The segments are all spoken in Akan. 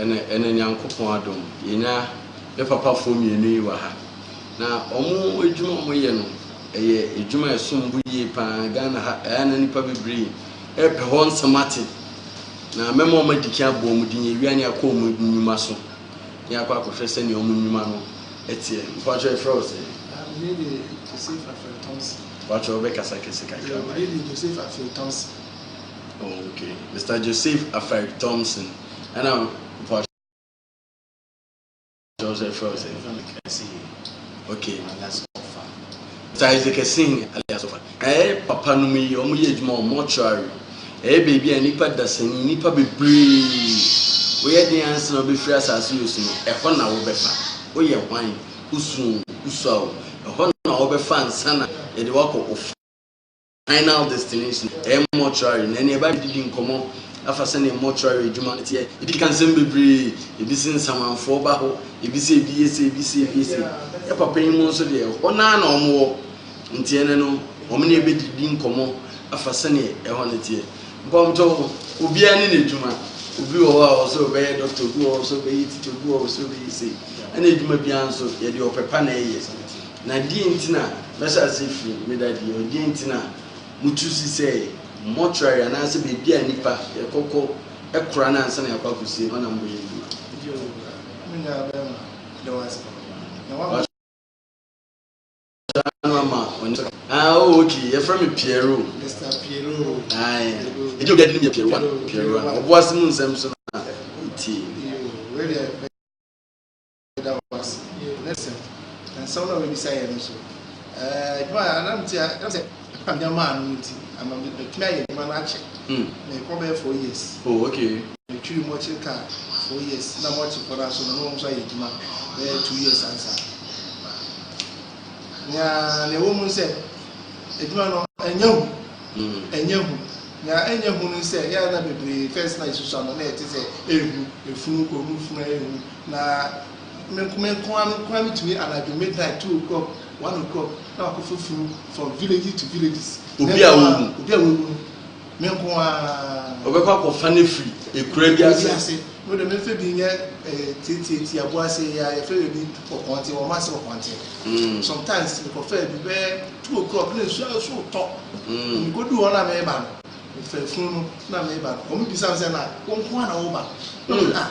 Ɛnɛ, ɛnɛ Nyankopɔn adom, yɛnya me papafoɔ mmienu yi wɔ ha. Na wɔn adwuma a wɔyɛ no, ɛyɛ adwuma a ɛsom bo yie paa. Ghana ha, ɛyɛ na nnipa bebree ɛrepɛ hɔ nsɛm ate. Na mɛma wɔn adi kan abɔ wɔn din, yɛwia ne akɔ wɔn nnwuma so. Ne akɔ akɔhwɛ sɛdeɛ wɔn nnwuma no ɛteɛ. Mpakyɛ ɛfrɛ wo sɛ? Me de Joseph Afrɛ Thompson. Mpakyɛ wobɛkasa kɛse kakra ma yɛn. Me de Joseph Afrɛ Thompson. Oh okay, Mister Joseph Afari Thompson ɛna mpa kyerɛ sɛ ɛfrɛ wo sɛ okay Mister Isaac Asihi alias Ɔfa na ɛyɛ papa no mu yi wɔn yɛ adwuma wɔ mortuary ɛyɛ baabi a nipa dasani nipa bebree woyɛ den ansa na wobɛfiri asase yɛ so no ɛhɔ na wobɛfa woyɛ hwan wosuo wosuo a wo ɛhɔ na wobɛfa ansa na yɛde wakɔ ofi Final Destination, ɛyɛ mortuary, na ɛne ɛba bɛdidi nkɔmmɔ afa sɛdeɛ mortuary adwuma no teɛ. Ebi ka nsɛm bebree, ebi se nsamanfoɔ ba hɔ, ebi se ebi yɛ sei, ebi se ebi yɛ sei. Yɛ papa yi mu nso deɛ, hɔ no ara na wɔwɔ, nti ɛnnɛ no, wɔne yɛ bɛdidi nkɔmmɔ afa sɛdeɛ ɛhɔ no teɛ. Nkɔmhyɛ hɔ, obiara ne n'adwuma. Obi wɔ hɔ a ɔwɔ sɛ ɔbɛyɛ dɔkta, obi wɔ hɔ sɛ ɔbɛyɛ tikya, obi wɔ hɔ sɛ ɔbɛyɛ sei. Ɛna adwuma biara nso, yɛde ɔpɛ pa na ɛyɛ. Na deɛn nti na mɛhyɛ aseɛ firi me dadeɛ hɔ? Deɛn nti na motu si sɛ mortuary anaasɛ baabi a nnipa kɔkɔ kora no ansa na yɛakɔ akɔsie no hɔ na moyɛ adwuma? Mo nyinaa bɛma dɔ ase, na wɔama. Ɔsra no ama ɔne so ka. Ah, oh, ok, yɛfrɛ me Pierrot. Mister Pierrot. Aye. Ɛgye obi a din no yɛ Pierrot a, Pierrot a. Ɔboase mu nsɛm so na wotie. Yoo, wei deɛ. Meda wo ase. Listen, nsɛm na wɔbisa yɛ no so. Adwuma a anam ti a ɛna sɛ ɛkɔ a nneɛma ano no ti ama matumi ayɛ adwuma no akyɛ. Mekɔ bɛyɛ four years. Oh, okay. Metwiri mu akyiri ka four years na wɔte kɔ no so no na wɔn nso ayɛ adwuma bɛyɛ two years ansa. Nea na ɛwɔ mu sɛ adwuma no ɛnyɛ hu. Ɛnyɛ hu. Nea ɛnyɛ hu no sɛ yɛa na bebree fɛs na esusu ano na ɛte sɛ ehu efunu kɔ mu funu ehu Na me nko me nko ara me nko ara metumi anadwo midnight two o'clock one o'clock na wakɔ foforo from villages to villages. Obi a wawu. Obi a wawu no me nko ara. Ɔbɛkɔ akɔfa ne firi ekura bi ase. Ekura bi ase. Mo de me nfɛ bi nyɛ ɛɛ eh, tietie ti abo ase ya yɛfɛ yɛ bi ɔkɔnte wɔn ase ɔkɔnte. Mm. Sometimes mekɔfɛ bi bɛyɛ two o'clock na nsuo aso tɔ. Mm. Mekodu hɔ na meba no mefɛ funu no na meba no wɔn bisa me sɛ na wɔn nko ara na wɔba. Mm. Ah.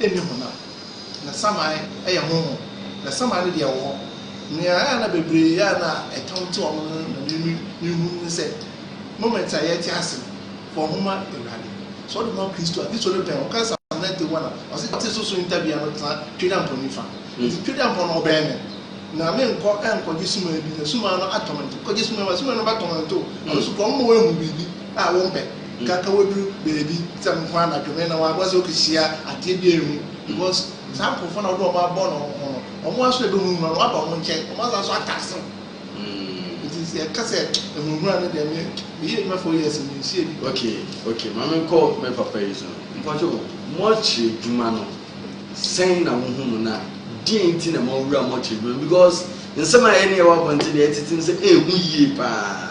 nni honam, na saman yɛ honhom, na saman no deɛ ɛwɔ hɔ. Nea ɛyɛ a na bebree a na ɛtam te wɔn no na menu nhu ne sɛ, moment a yɛte ase no, fa wo ho ma Awurade. Sɛ wode wo ho ma Kristo a, Kristo no bɛn wo. Woka Psalm ninety one a, ɔse, Ɔte so so ntabea no tena Twedampɔn nifa. Nti Twedampɔn no ɔbɛn me. Na menkɔ nkɔgye sumaa bi, na sumaa no atɔ me nto. Kɔgye sumaa bi, na sumaa no bɛtɔ me nto. Ɛno nso kɔ, ɔmma woanhu biribi a wompɛ. Nkanka woedur beebi sɛ nko anadwo me na hɔn abɔdze okehyia adze bi a ehu because saa nkorɔfo na wɔdze hɔn abɔn hɔn ho no, hɔn ara so ebehunahuna no wɔaba hɔn nkyɛn, hɔn adze aso ata asen. Ntsi sɛ yɛka sɛ ehunahuna no dɛ me meyɛ edwuma four years mennhyia bi da. Okay, okay, ma menkɔ me papa yi so. Mpacho, mortuary edwuma no, sɛn na wohu no na deɛn nti na moawura mortuary edwuma no because nsɛm a yɛne yɛwɔ abɔnten na yɛtete no sɛ ehu yie paa.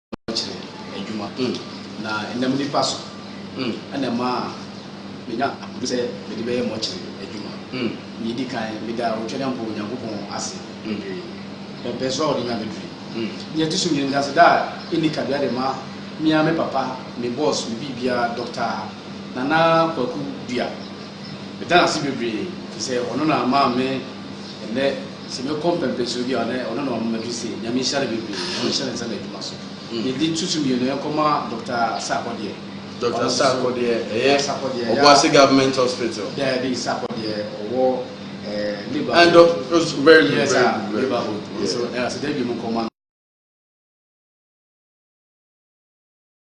kyerɛ adwuma na ɛnam nnipa so na ɛmaa menya ahoɔden sɛ mede bɛyɛ mɔkyere adwuma. Nea edi kan, meda Otwedeɛ Mpo Onyankopɔn ase bebree. Ɛmpɛn so a ɔde me abɛduru yi. Nea ɛto so mmienu, meda aseda a enni kabea de ma me ara me papa, me boss, me biribiara, Dɔkta Nana Kwaku Duah. Meda no ase bebree efisɛ ɔno na ama me ɛnnɛ sɛ mɛkɔ mpɛmpɛnsoɔ bi a ɔnɛ ɔno na wama maduru sei. Nyame nhyira no bebree na ɔnhyɛ ne nsa n'adwuma so. Mm. Yɛde tutu mmienu yɛnkɔ ma Dɔkta Sarkɔ deɛ. Dɔkta Sarkɔ deɛ ɛyɛ Ɔboase Government Hospital. Daabi Sarkɔ deɛ ɔwɔ eh, Labour. And Dɔk, very good, yes, very good. Labour Hood. Yeah. So ɛyɛ asɛ daabi mu nkɔma no.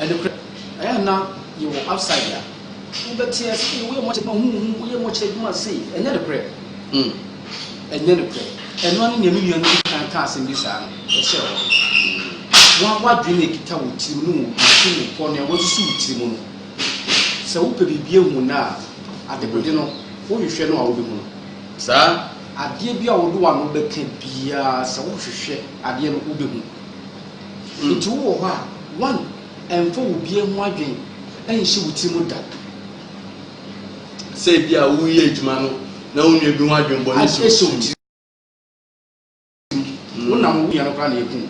Ɛno kura. Ɛyɛ na yɛwɔ outside a wobɛte ase sɛ woyɛ mɔkyɛ adwuma huhu woyɛ mɔkyɛ adwuma se ɛnyɛ no korɛ. Hmm. Ɛnyɛ no korɛ. Ɛno ne nea me nua no di kan ka asɛm bi saa no ɛhyɛ hɔ. Hmm. Wɔn wadwene na ekita wɔ tirim no wɔ ti mu pɔ nea wɔasusu wɔ tirim no. Sɛ wopɛ biribi ehu no a adebɔde no wohwehwɛ no a wobɛhu no. Saa. Adeɛ bi a wɔde w'ano bɛka biara sɛ wohwehwɛ adeɛ no wobɛhu. Enti wowɔ hɔ a, one, ɛmfa wo bie ho adwen nhyɛ wo tiri mu da. Sɛ ebi a woreyɛ adwuma no na wo nua bi ho adwen bɔ ne si wo tiri mu. Wo na wo nua no koraa na eku wo.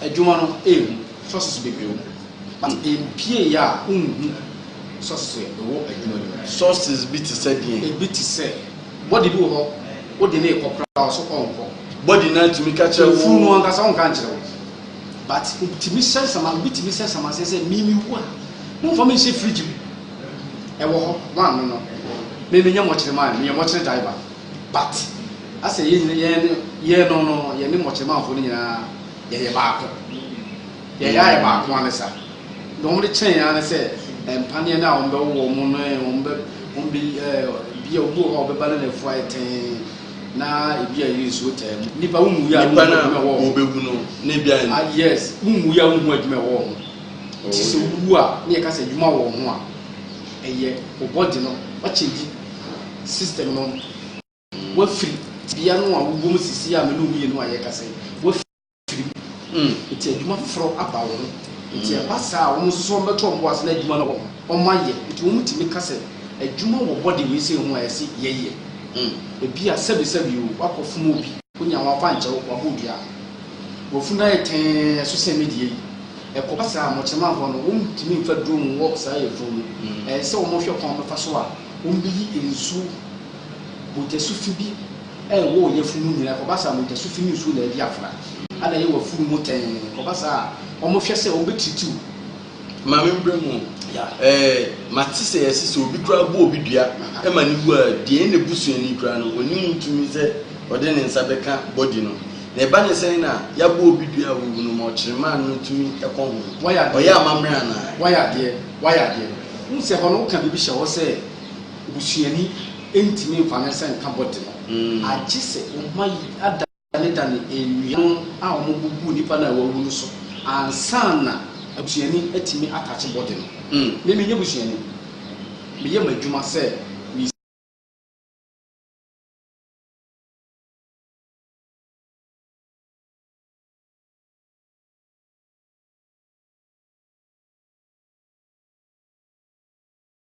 Adwuma no ehu sources bebree wɔ mu, but mpie yɛ a wonhu sources a ɛwɔ adwuma no mu. Sources bi te sɛ deɛn? Ebi te sɛ. Body bi wɔ hɔ wode no rekɔ koraa ɔso ɔnkɔ. Body no atumi ka kyerɛ wo. Efuru no ankasa ɔnka nkyerɛ wo. But obitumi sɛ nsama obi tumi sɛ nsama sɛ sɛ mimi wu a momfa me nhyɛ fridge mu. Ɛwɔ hɔ wɔano no. Me menyɛ mɔkyere man meyɛ mɔkyere driver but asɛ yɛn yɛn yɛn no no yɛne mɔkyere manfo no nyinaa yɛyɛ baako. Yɛn yare baako ara ne saa. Deɛ wɔde kyɛn yɛn ara ne sɛ mpaneɛ no a wɔbɛwo wɔn no, wɔbɛ, wɔbɛ, ebi a obi wɔ hɔ a ɔbɛba no na afu ayɛ tɛnn, na ebi a ɛyɛ nsuo taa mu. Nnipa wonwu yɛ a wonhu adwuma ɛwɔ wɔn ho. No, na ebi ayɛ. Ah, yes, wonwu yɛ a wonhu adwuma ɛwɔ wɔn ho. Nti sɛ wowu a, ne yɛka sɛ adwuma wɔ wɔn ho a, ɛyɛ wo body no, wakyɛngyi system no. Wafiri tebea no a wowɔ mu seesei a me ne wo mmienu a yɛrekasa yi, wafiri mu. Mm. Nti adwuma foforɔ aba wo ho. Nti ɛba saa a, wɔn nso so wɔbɛto wɔn bo ase na adwuma no wɔ hɔ, wɔayɛ. Nti wɔtumi ka sɛ, adwuma wɔ bɔde wei sei ho a ɛse yɛyɛ. Mm. Ebia sɛbesɛbe o, woakɔfom obi, wonya ho akwankyɛw, wabɔ dua, wafunu no ayɛ tɛnn, ɛso sen me deɛ yi. Ɛkɔba saa a, mmɔkyerɛmanfoɔ no, wɔntumi mfa duro nwowɔ saa yafunu no. Mm. Ɛyɛ sɛ wɔhwɛ kwan wɔbɛfa so a wɔbɛyi nsuo Mogyasufi bi nwoo yafunu nyina, kɔba saa a mogyasufi ne nsuo na adi afra, ana yɛ wafunu mu tɛnn, kɔba saa a wɔn hwɛ sɛ wɔn bɛ tritiw wo. Maame mbrɛ mu ɛɛ mate sɛ yɛse sɛ obi koraa bɔ obi dua ɛma ne wu a deɛ ɛyɛ n'abusuani koraa no ɔnim ntumi sɛ ɔde ne nsa bɛka body no na ɛba ne sɛn na yabɔ obi dua a wawu no ma ɔkyerɛmaa no tumi kɔ ho ɔyɛ amammerɛ anaa? Wayɛ adeɛ wayɛ adeɛ wohu sɛ hɔ no woka biribi hyɛ hɔ sɛ. Busuani ntumi mfa ne nsa nka bɔte no, agye sɛ ɔma yi adanedane nnua no a wɔbɔ gu nipa no a wawu no so ansa na busuani atumi atakye bɔte no. Me, menyɛ busuani. Meyɛ m'adwuma sɛ me.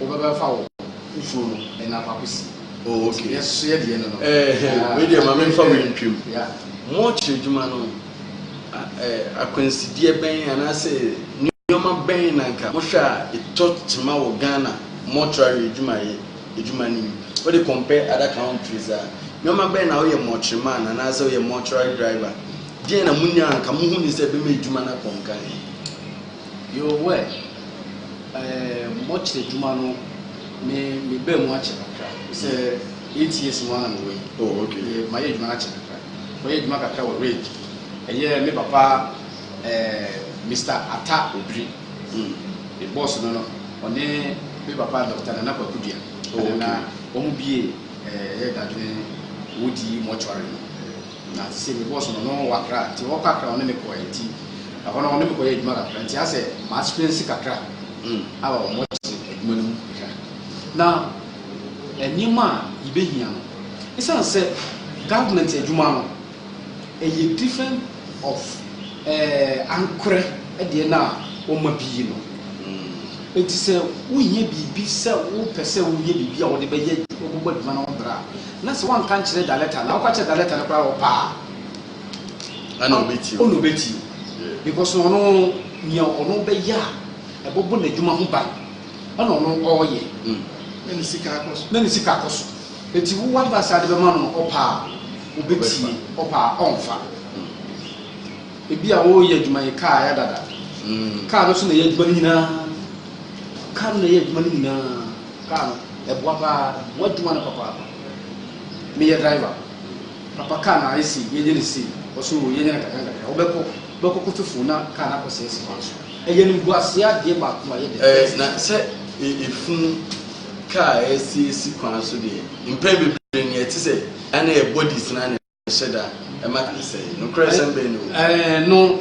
Wobɛbɛfa wo fufuo no ɛna faako si. Oh ok. Nti yɛn so yɛ deɛ no no. Ɛɛhɛn wei deɛ ma menfa wei ntwam. Yeah. Mo ɔkyerɛ adwuma no eh, akwansideɛ bɛn anaasɛ nneɛma bɛn na nka mohwɛ a ɛtɔ kyema wɔ Ghana mortuary adwumayɛ adwuma no mu? Wode compare other countries a, nneɛma bɛn na woyɛ mortuary man anaasɛ woyɛ mortuary driver, deɛn na monya a nka mohunu sɛ ɛbɛma adwuma no akɔ nkan? Yoo wɛ ɛɛ mɔkyerɛ dwuma no me me baa mu akyɛ kakra sɛ eight years mu ara na me wɔ yi oh okay me ma yɛ adwuma no akyɛ kakra kɔ yɛ adwuma kakra wɔ red ɛyɛ me papa ɛɛ Mister Ata Obiri mm me boss no no ɔne me papa Doctor Nana Kwaku Dua oh okay na wɔn bie ɛɛ yɛ dadwene wodi mortuary no. Na sesei me boss no, no wɔ Accra, ntsi ɔwɔ kɔ Accra a ɔnye me kɔɛ, ntsi na hɔ no ɔnye me kɔyɛɛ edwuma kakra, ntsi asɛ ma experience kakra aaba wɔ mortuary edwuma no mu kakra, na nneɛma a yebehia no, esiane sɛ government edwuma no yɛ different of eh ankorɛ deɛ no a wɔma bi yi no, ntsi sɛ wohia biribi sɛ wopɛ sɛ woyɛ biribi a wɔde bɛyɛ, wɔbɛbɔ edwuma no ho bra a, Na sɛ wɔanka nkyerɛ Daletta na woka kyerɛ Daletta no koraa ɔpɛ a, ɛna ɔbɛtie wo. Ɔna ɔbɛtie wo. Because na ɔno nea ɔno bɛyɛ a ɛbɔbɔ n'adwuma ho ban ɛna ɔno ɔreyɛ. Na ne sika akɔ so. Na ne sika akɔ so. Enti wo advice a wode bɛma no no ɔpɛ a ɔbɛtie, ɔpɛ a ɔnfa. Ebia woreyɛ adwuma yi, kaa yɛ dada. Kaa no so na ɛyɛ adwuma no nyinaa. Kaa no na ɛyɛ adwuma no nyinaa. Kaa no, ɛboa paa. Ɛboa adwuma no papaapa. Meyɛ driver. Papa kaa no ayɛ sei, yɛnyɛ no sei. Ɔse oo, yɛnyɛ no nkakrankakra. Wobɛkɔ, wobɛkɔ kɔtɔ fuel na kaa no akɔsɛe asi kwan so. Ɛyɛ animguaseɛ adeɛ baako a ɛyɛ the best. Ɛɛ, na sɛ efunu kaa a ɛsɛe si kwan so deɛ, mpɛn bebree no ɛte sɛ ɛyɛ a na ɛyɛ bodies no ara na. Ɛhyɛ da ma kane sɛɛ. Nokorɛsɛm bɛn ni o? Ɛɛ, no,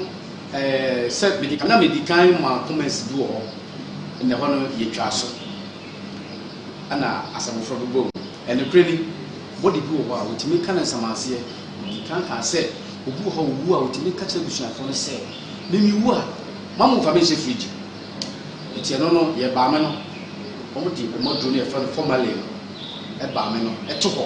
ɛɛ, sɛ mede ka, na medi kan maa comments bi wɔ hɔ, na ɛhɔ no yɛtwaa so, ɛna asɛm foforɔ bɛbɔɔ mu. Ɛnokorɛ ni, body bi wɔ hɔ a, wɔtumi ka no nsamanseɛ. Medi kan kaa sɛ, obi wɔ hɔ a ɔwu a, wɔtumi ka kyerɛ abusuafoɔ no sɛ, me mewu a, mma mommfa me nhyɛ fridge mu. Enti ɛno no, yɛbaa me no, wɔde wɔn aduro no a yɛfrɛ no formalin no baa me no to hɔ.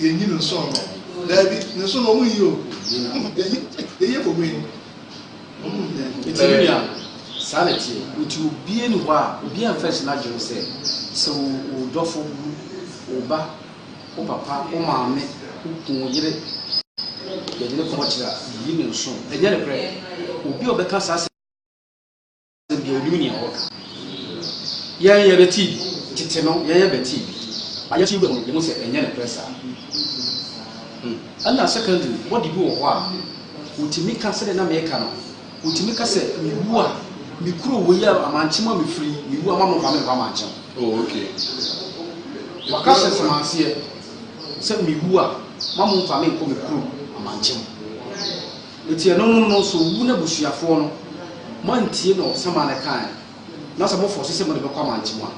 yɛnyi no nsɔn no daabi ne nso na ɔmo yi o yɛyɛ fo wei nti ne nua saa na ɛteɛ nti obie ne hɔ a obie amfa si n'adwene sɛ sɛ wo dɔfo wu wo ba wo papa wo maame wo kun yere yɛde ne kɔmɔ kyerɛ a yi ne nso ɛnyɛ ne korɛ obi a ɔbɛka saa sɛ Deɛ ɔnim nea ɔreka. Yɛn yɛbɛtii bi. Tete no yɛn yɛbɛtii bi. Na yɛte wura mu no yɛhu sɛ ɛnyɛ nokorɛ saa. Ɛna secondly body bi wɔ hɔ a ɔtumi ka sɛdeɛ na meka no, ɔtumi ka sɛ mewu a me kuro wei a amankye mu a mefiri yi mewu a mamfa me nkɔ amankye mu. Oh okay. Waka sɛ sɛmanseɛ sɛ mewu a mamfa me nkɔ me kuro amankye mu. Enti ɛnonom no nso wu n'abusuafoɔ no moantie deɛ ɔsaman no kaeɛ no, na sɛ mofɔɔse sɛ mode bɛkɔ amantam a,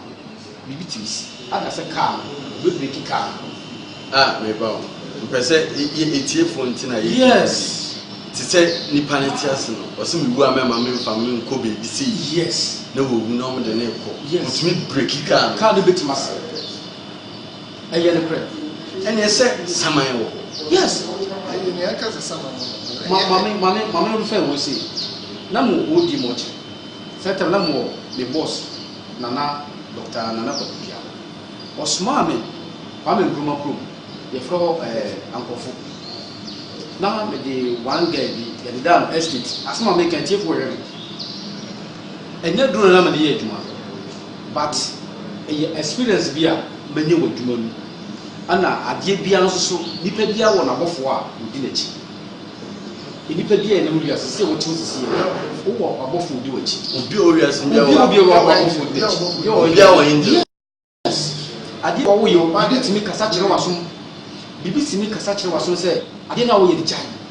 biribi tumi si. Ada sɛ kaa no, ɔbɛbreki kaa no. A, mereba o. Mepɛ sɛ yɛ atiefoɔ nti na yɛyɛ biribi. Yes. Te sɛ nipa no te ase no, ɔse mewu a mɛmma memfa me nkɔ baabi sei. Yes. Na wawu na wɔde no rekɔ. Yes. Ɔtumi breki kaa no. Kaa no bɛtumi asɛe. Ɛyɛ nokorɛ ɛneɛ sɛ saman wɔ hɔ. Yes. Ɛyɛ nea ɛka sɛ saman wɔ hɔ. Ma ma me ma me ma me no fɛn wɔn sei. Na mo wɔ di mɔkye. Sɛ tɛm na mo wɔ me boss nana Dɔkta nana Kwaku Duaho. Ɔsomaa me Kwame Nkrumah kurom yɛfrɛ hɔ ɛɛ Ankorɔfo. Na me de one girl bi yɛdedaa no estate. Asɛm a meka atiefo wɔ hwɛ me. Ɛnyɛ duro na na me de yɛ adwuma. But ɛyɛ experience bi a manya wɔ adwuma mu. Ɛna adeɛ biara nso so nipa biara wɔ n'abɔfoɔ a ɔdi n'akyi. Nnipa biara ɛnam wiase sɛdeɛ wote hɔ sisi yɛ no, wowɔ abɔfoɔ ɔdi w'akyi. Obiara wɔ wiase biara wɔ abɔfoɔ ɔdi n'akyi. Obiara wɔ angel. Yes. Adeɛ a woyɛ, obi tumi kasa kyerɛ w'asom. Biribi tumi kasa kyerɛ w'asom sɛ adeɛ no a woyɛ no gyae.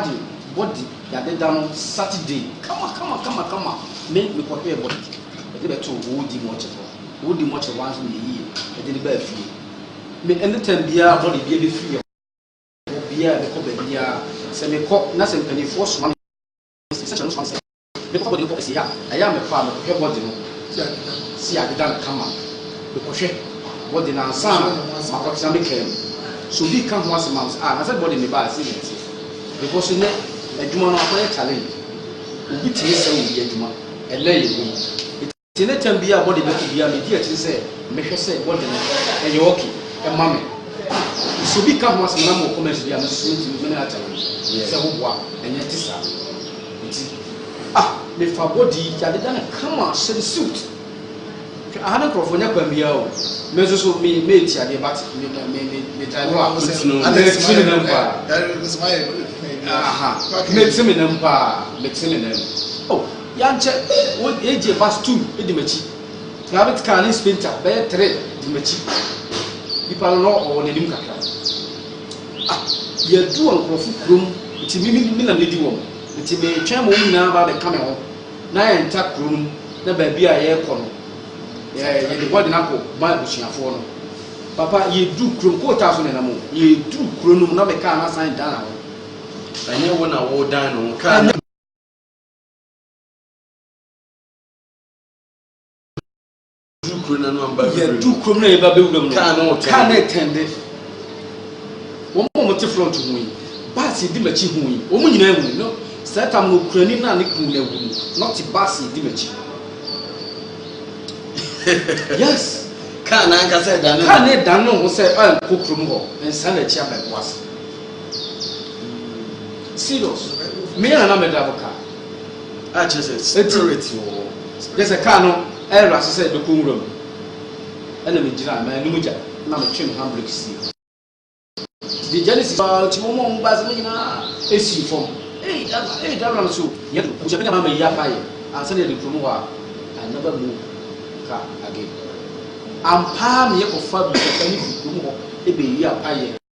Ade body yade da no Saturday kama kama kama kama me me kɔ hwɛɛ body yɛde bɛ too old mortuary hɔ old mortuary wa nso me yɛ yie yɛde no baa fie me any time biara body bia bɛ firi yɛ hɔ biara bɛ kɔ baabi biara sɛ me kɔ na sɛ mpanyinfoɔ soma me sɛ kyerɛ no soma me sɛ. Mekɔ body kɔ ɛsi ha ɛyɛ a mekɔ a mekɔhwɛ body no si adeda no kama mekɔhwɛ body no ansa na makɔ tena me kaa mu so obi ka ho asɛm ansa a na sɛ body ne baa sɛ yɛ te because ɛnɛ adwuma no akɔyɛ challenge obi tumi sɛ obi adwuma ɛnɛ yɛ wei. Te ne tam biaa bɔde bɛto biaa medi akyiri sɛ mɛhwɛ sɛ bɔde no ɛyɛ ok ma me. Sɛ obi ka ho asɛm anaa ma wɔ comments bi a mesusu nti me mene akyɛ no sɛ wo boa ɛnyɛ te saa nti ah me fa bɔde yi yade da no kama hyɛ no suit hwɛ aha ne nkorɔfoɔ nyɛ kwan biaa o me nso so me me ti adeɛ but me me me me me drive a me ti me nam paa me ti me nam paa me ti me nam oh Yɛankyɛ, wogyee bus two di m'akyi. Private car ne Sprinter bɛyɛ three di m'akyi. Nipa no, na ɔwɔ n'anim kakra. Ah, yɛadu nkurɔfo kurom, nti me me me na medi wɔn. Nti meretwɛn ma wɔn nyinaa aba abɛka me ho na yɛntra kuro no mu na baabi a yɛrekɔ no, yɛ yɛde body no akɔ ma abusuafoɔ no. Papa, yɛduru kurom, coal tar so na ɛnam o, yɛduru kuro no mu na me car no asan dan ho. Ɛnyɛ wo na wodan ne ho, car no. yɛdu kurom na yɛba bɛwura mu no kaa na ɛtɛnde wɔn a wɔte front ho yi baas yɛdi m'akyi ho yi wɔn nyinaa hu no saa tam no okurani no a ne kunu no awu no na ɔte baas yɛdi m'akyi yes kaa na ankasa ɛdane kaa na ɛdane ho sɛ ankɔ kurom hɔ nsa n'akyi abɛboa se serious me na na me drive car a kyerɛ sɛ spirit wɔ hɔ kyerɛ sɛ car no ɛyɛra so sɛ ɛbɛkɔ nwura mu ɛna megyina ma anim gya na metwe me handbrake sie de gya no si paa nti wɔn a wɔn baase no nyinaa esi fam ee ee driver no so yɛ do abusuafo nyinaa ma yi aka yɛ ansa na yɛde kurom hɔ a I never move car again ampaa meyɛ kɔfa abusuafo ne kurom hɔ ebe yi apa yɛ.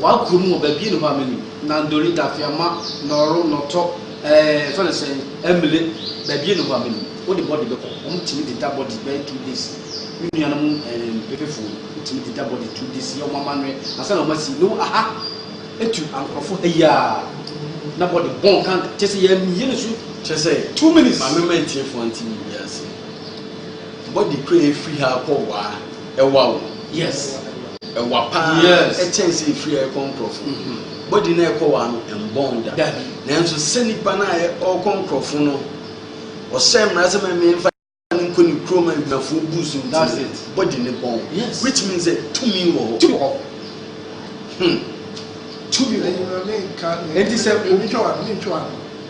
Waa kurom wɔ baabi ɛne hɔ a menim, Nandori, Dafiama, Nɔɔro, Nɔtɔ, ɛɛ fɛ no sɛn, Ɛmile, baabi ɛne hɔ a menim. Wo de body bɛkɔ, wɔn tumi de da body bɛyɛ two days. Me nua nom ɛɛ mpefefo no, wɔn tumi de da body two days yɛ wɔn amanwɛ ansa na wɔn asi. No aha, etu ankorɔfo ha yi aa, na body bɔn kanka, kyɛ sɛ yɛn yɛ ne so. Kyɛ sɛ, two minutes. Maame ma atiefo nte biribi ase, body kura efiri ha kɔ Waa. Ɛwa o, yes. Ɛwa paa kyɛn sɛ efiri a ɛkɔ nkorɔfo. Body no a ɛkɔ wa no ɛmbɔn da. Nanso sɛ nipa no a ɔkɔ nkorɔfo no ɔhyɛ mmara sɛ mɛmɛ nfa no nkɔ ne kurom abusuafoɔ bus nti no body no bɔn. Which means sɛ tumi wɔ hɔ. Tumi wɔ hɔ. Hmm. Tumi wɔ hɔ. Enti sɛ obi twa wa no, mentwa wa no.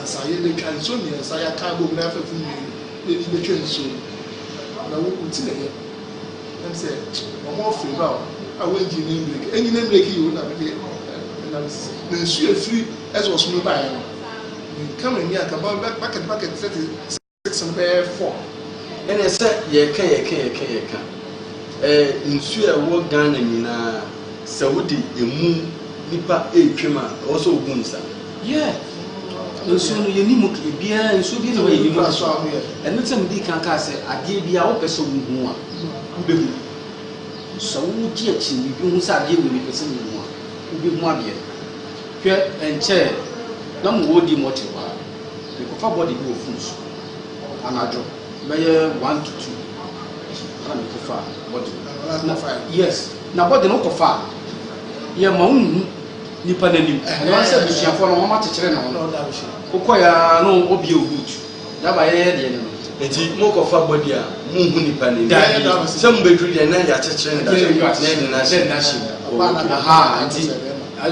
Ansa yɛbɛtwa nsuo mmiɛnsa, yɛaka abom na afɛfo mmienu na ɛde bɛtwa nsuo no. Na wo wo ti na ɛyɛ ɛm sɛ wɔn ɔfiri hɔ a wɔngyi ne mbreki ɛnyi ne mbreki yi o na mede ɛnam sisi na nsuo ɛfiri ɛsɛ ɔsono baeɛ no menka m'ani anka bakɛt bakɛt sɛte Ɛtene bɛyɛ fɔm ɛne sɛ yɛka yɛka yɛka yɛka ɛɛ nsuo a ɛwɔ Ghana nyinaa sɛ wode ɛmu nipa ɛretwam a ɛwɔ sɛ ɔbu nsa. Yeah nsuo no yɛni mu biara nsuo bi na hɔ yɛni mu ɛno sɛ medi kan kaa sɛ adeɛ bi a wopɛ sɛ wohu a wobɛhu sɛ wogye akyi biribi ho sɛ adeɛ wei mepɛ sɛ mehu a wobɛhu adeɛ no hwɛ ɛnkyɛɛ na mowɔ di mɔte hɔ a Mekɔfa body bi wɔ foot so anadwo bɛyɛ one to two ɛna mekɔfa body no yes na body no kɔfa a yɛ ma wo nhu nipa n'anim ɛna sɛ busuafoɔ no wɔn akyekyere ne ho wokɔ ya no obie o boot daba yɛyɛ deɛ no nti mo kɔfa body a mo nhu nipa n'anim sɛ mo bɛduru deɛ na yɛakyekyere ne da na ɛde no ahyɛ mu aha nti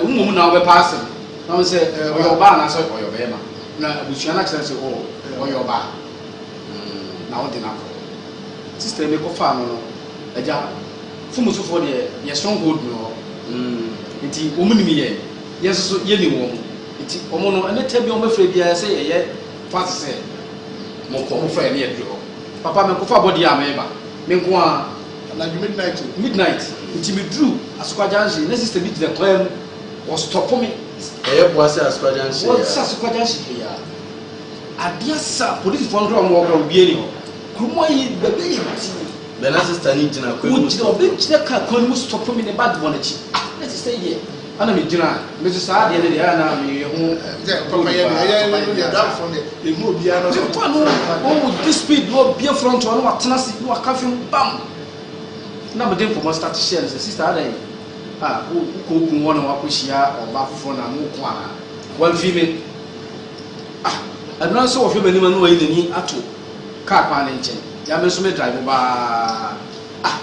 wo mmom na wobɛpa asɛm Ɔno sɛ ɔyɛ ɔbaa anaasɛ ɔyɛ ɔbɛrima na abusua no akyerɛ sɛ oh, ɔyɛ ɔbaa mm, na wode no akɔ sista yi mekɔfaa no no agya fomusufoɔ deɛ yɛ stronghold no hɔ mm, nti wɔn nim yɛ yɛ nso so yɛnim wɔn nti wɔn no ɛne tɛ bi wɔn bɛfrɛ biara sɛ yɛyɛ fa te sɛ mokɔ mo frɛ ne yɛduru hɔ papa mekɔfa bɔdeɛ a meba menko a anadwo midnight midnight nti meduru asokwa junction na sista bi gyina kwan mu Wɔ stɔpo me. Ɛyɛ boa sɛ asukwaagya nhye yɛ a. Wɔ sɛ asukwaagya nhye hwee a. Adeɛ asa a polisifoɔ no koraa wɔn wɔ hɔ koraa obi ani hɔ. Kurom ha yi baabi ayɛ tii. Bɛ na sista no gyina kwan mu stɔpo. Obi gyina kaa kwan no mu stɔpo me ne bag bɔ n'akyi. Ah na sista yi yɛ. Ana me gyina me so saa adeɛ no deɛ ana me yɛ ho. Sɛ papa yɛ deɛ yɛ yɛ yɛ danfoɔ deɛ yɛ hu obiara no. Sɛ papa no wɔn wɔ di speed na obie front hɔ na watena se na waka fam bam. Na me de nkɔmɔ start hyɛ no sɛ sista adan. A, wo, wokɔ kun hɔ na woakɔhyia ɔbaa foforɔ na mo ko anaa? Wamfiri me. Ah, ɛno ara sɛ ɔhwɛ m'anim a na wayi n'ani ato kaa kwan no nkyɛn. Yɛ a me nso me drive baa. Ah,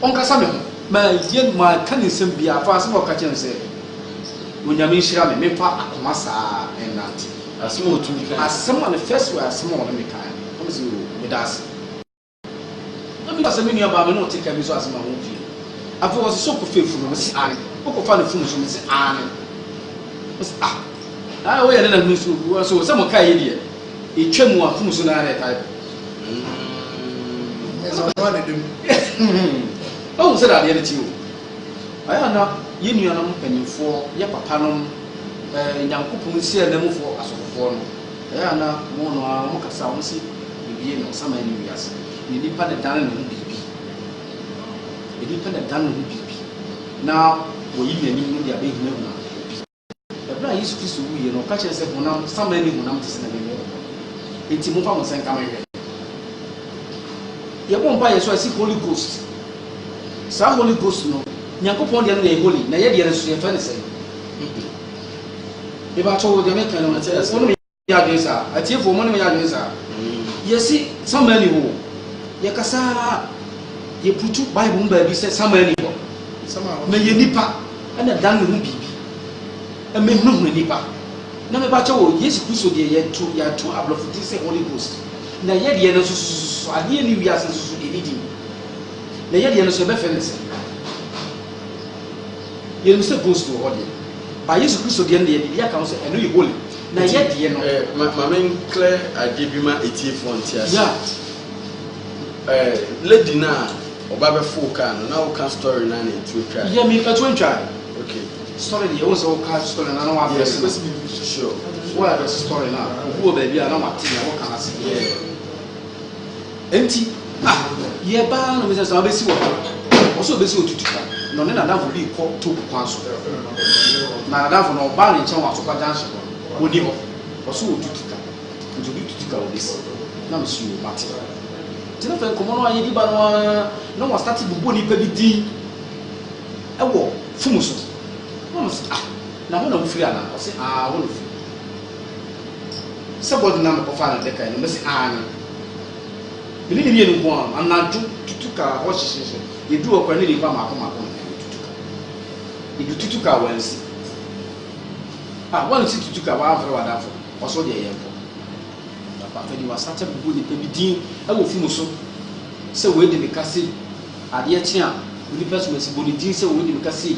ɔnkasa me ho. Mayɛ, manka ne nsɛm biara afa asɛm a ɔka kyerɛɛ me sɛ, Onyame nhyira me, memfa akoma saa nnante. Asɛm a ɔtumi kaeɛ. Asɛm a ne first word asɛm a ɔne me kaeɛ no, na mese, Oo, meda ase. Na meka sɛ, Me nuabaa, me ne wo te ka bi so asɛm a wo mfie. Afei ɔse, Sɛ wokɔfa efunu? Mese, Aane. Wokɔfa ne funu so? Mese, Aane. Ɔse, Ah, na ayɛ woyɛ ne nanu so. Ɔse, Sɛ mokae yi deɛ, etwa mu a, funu so na ara na ɛtae kɔ. Ɔhu sɛ dadeɛ no te o. Ayɛ na yɛn nuanom mpanimfoɔ, yɛ papanom, eh, Nyankopɔn nsiananmufoɔ asɔfofoɔ no, Ɛyɛ a na wɔn no ara wɔkasa a wɔse yɛbie no ansa ma yɛne wiase. Na nipa na ɛdane ne ho biribi. Nipa na ɛdane ne ho biribi na wɔyi n'anim no de abɛhunahuna obi. Ɛberɛ a Yesu Kristo wuiɛ no ɔka kyerɛɛ sɛ honam saman ne honam te sɛ na mewɔ mo hɔ no nti momfa mo nsa nka me hwɛ. Yɛbɔ mpa yɛ so a ɛse Holy Ghost. Saa Holy Ghost no Nyankopɔn deɛ no na ɛyɛ holy na yɛ deɛ no nso yɛfrɛ no sɛn? Mebakyɛ wo deɛ meka no mu sɛ ɛsɛ mo ne me yɛ adwene saa. Atiefoɔ mo ne me yɛ adwene saa. Yɛsi sama ni hɔ. Yɛkasa yɛputu Bible mu baabi sɛ sama ni hɔ. Na yɛ nipa ɛna dan ne ho biribi. Ɛmɛ hunahuna nipa. Na mebakyɛ wo Yesu Kristo deɛ yɛto yɛato aborɔfo din sɛ Holy Ghost. Na yɛ deɛ no nso soso adeɛ ne wiase nso so deɛ ne din. Na yɛ deɛ no nso yɛbɛfɛ no sɛ. Yɛnim sɛ ghost wɔ hɔ deɛ ba Yesu Kristo deɛ no deɛ biribi aka ho sɛ ɛno yɛ holy na yɛ deɛ no. Eh, ma, ma me nklɛ adeɛ bi ma etiefoɔ nte ase. Yeah. Eh, lady no a ɔba bɛfoo kaa no na woka story no a na ɛtuo twae. Yɛ me ɛtuo ntwae. Okay. Story deɛ wo sɛ woka story no a na woadrɛse no. Yeah, sure. Woadrɛse story no a obi wɔ baabi a na wate na woka no ase. Yeah. Enti, ah, yɛ ba ara na ɔbɛsɛ sɛ ɔbɛsi wɔ hɔ. Ɔwɔ sɛ ɔbɛsi otutu ka na ɔne n'adamfo bi rekɔ Tobu kwan so. Na n'adamfo no ɔbaa ne nkyɛn wɔ Asokwa junction hɔ no, ɔni hɔ. Ɔwɔ sɛ ɔtutu ka. Nti ɔde tutu ka ɔbɛsi. Na me so yoo, mate. Nti na afei nkɔmmɔ no a yɛdi ba no ara na wɔastate bobɔ nipa bi din wɔ fom so. Na me so, ah, na hɔ na wofiri anaa? Ɔse, ah, hɔ na ofiri. Sɛ body na mekɔ faa no dɛka yi no mɛse aane me ne ne mmienu nko ara anadwo tutu car hɔ hyehyehyɛ yɛduru hɔ koraa ne nipa maako maako na yɛtutu car yɛdu tutu car wansi ah wansi tutu car wamfrɛ wadamfo ɔso deɛ yɛnkɔ papa fadi wasate bubu nipa bi din ɛwɔ funu so sɛ wɔadi me ka sei adeɛ kye a onipa sumasi bɔ ne din sɛ wɔadi me ka sei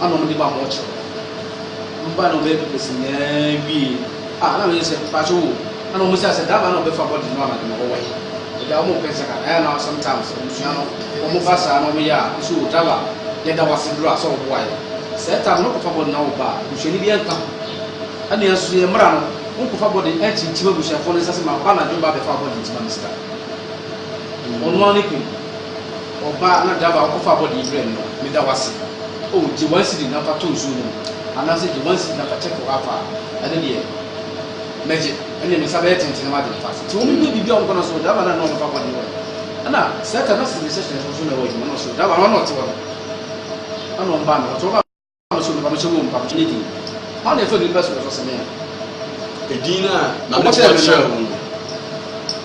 ama wɔn de ba mɔɔkyere hɔ mba na wɔn bɛyɛ pɛpɛsi nyinaa wie a na wɔn yɛ sɛ pàṣẹ o ɛna wɔn sɛ asɛ dama na wɔn bɛfa bɔdi no ama de ma wɔwɔ yi ɛda wɔn pɛ sɛ ka ɛyɛ na sometimes abusua no wɔn ba saa na wɔn yɛ a nso o dala yɛ da wase duro a sɛ wɔn boa yɛ sɛ ɛta no kɔfa bɔdi na wɔn ba a busuani bi ɛnka ho ɛna yɛn nso yɛ mmara no wɔn kɔfa bɔdi ɛnkyinkyim abusuafoɔ no nsa sɛ ma ba na dwom ba bɛfa bɔdi nti ma mi sika wɔn ano ne kun. Ɔbaa na driver a ɔkɔfa abɔde yi brɛɛ me no, meda wo ase. Oh, gye one cedi na fa to nsuo no mu, anaasɛ gye one cedi na fa check car a, ɛno deɛ mɛgye. Ɛnneɛ me nsa bɛyɛ tenten na m'adwene fa ase. Nti wɔn bue biribi a wɔn kɔ na so driver no a na ɔno ɔbɛfa abɔde yi wɔ he? Ɛna saa time no na civilization nso na ɛwɔ adwuma na so driver no a na ɔte hɔ no, ɛna wɔn baa me hɔ. Nti wɔn baa. Nso nnipa no hyɛ wɔn mpaboa ne din. Hwan na ɛfa nnipa so na ɛfa sɛnea edin no a na wɔkyerɛ no kyerɛ wɔn no?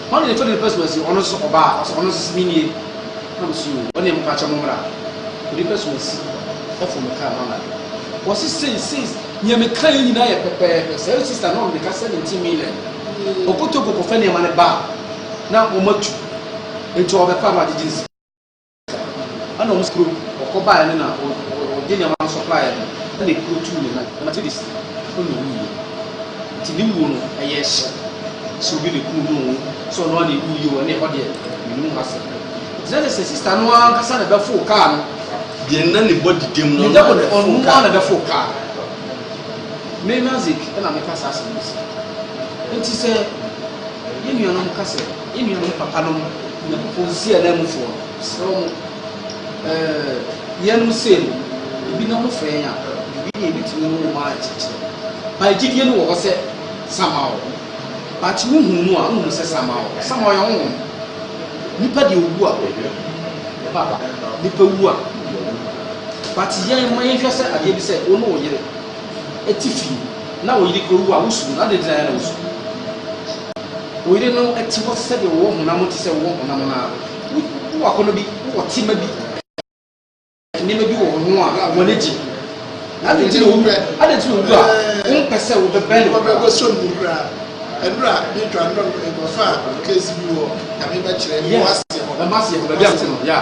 Hwan na ɛfa nnipa so na si ɔno nso sɛ ɔbaa? Ɔsɛ ɔno nso sɛ menie na mesi o. Wɔn deɛ mopakyɛ mo mmra. Onipa so na si ɛfo mekaa no anadwo. Wɔse sei sei nea mekaeɛ nyinaa yɛ pɛpɛɛpɛ saa sista no ɔmmeka sɛ mente Milen. Ɔkotoo kɔ kɔfa nneɛma no baa na wɔatu nti ɔrebɛkɔ a na wɔagyegye ne sika. Ɛna wɔn kuro ɔkɔ baeɛ no na ɔde nneɛma no sɔplaeɛ no ɛna ekuro tuu ne nan ɛna tiri ɛna owu yie nti ne wuo no ɛyɛ hyɛ sɛ obi ne kunu ho sɛ ɔno ade ewu yie wɔ ne ɛhɔ deɛ ne mu asɛ gyina ne sɛ sista no ankasa na ɛbɛfo kaa no deɛ nna ne bɔ didem no ɔno na ɔno kaa na ɛbɛfo kaa me nazik ɛna meka saa asɛm no si nti sɛ yɛn nuanom ka sɛ. Yɛn nuanom papanom, Onyankopɔn nsi ananmufoɔ no, mesrɛ mo, yeinom sei no, ebi na mofrɛ yɛn a, biribi deɛ yɛbɛtumi ne mo ma akyerɛkyerɛ. But gyidie no wɔ hɔ sɛ Samaɔ. But wohunu no a, wonhunu sɛ Samaɔ. Samaɔ yɛ honhom. Nipa deɛ ɔwu a, ɛba ba. Nipa wu a, deɛ ɔwu. But yɛn, ma yɛnhwɛ sɛ adeɛ bi sɛ, wo ne wo yere te fie. Na oyere kura owu a wosu mu no, adɛn nti na yɛn na wosu? Oyere no te hɔ sɛdeɛ ɔwɔ honam, te sɛ wowɔ honam no ara. Wowɔ akɔnnɔ bi, wowɔ tema bi, nneɛma bi wɔ wo ho a w'ani gye. Na adɛn nti na owu, adɛn nti na owu a wompɛ sɛ wobɛbɛn no koraa? Yeah, yeah.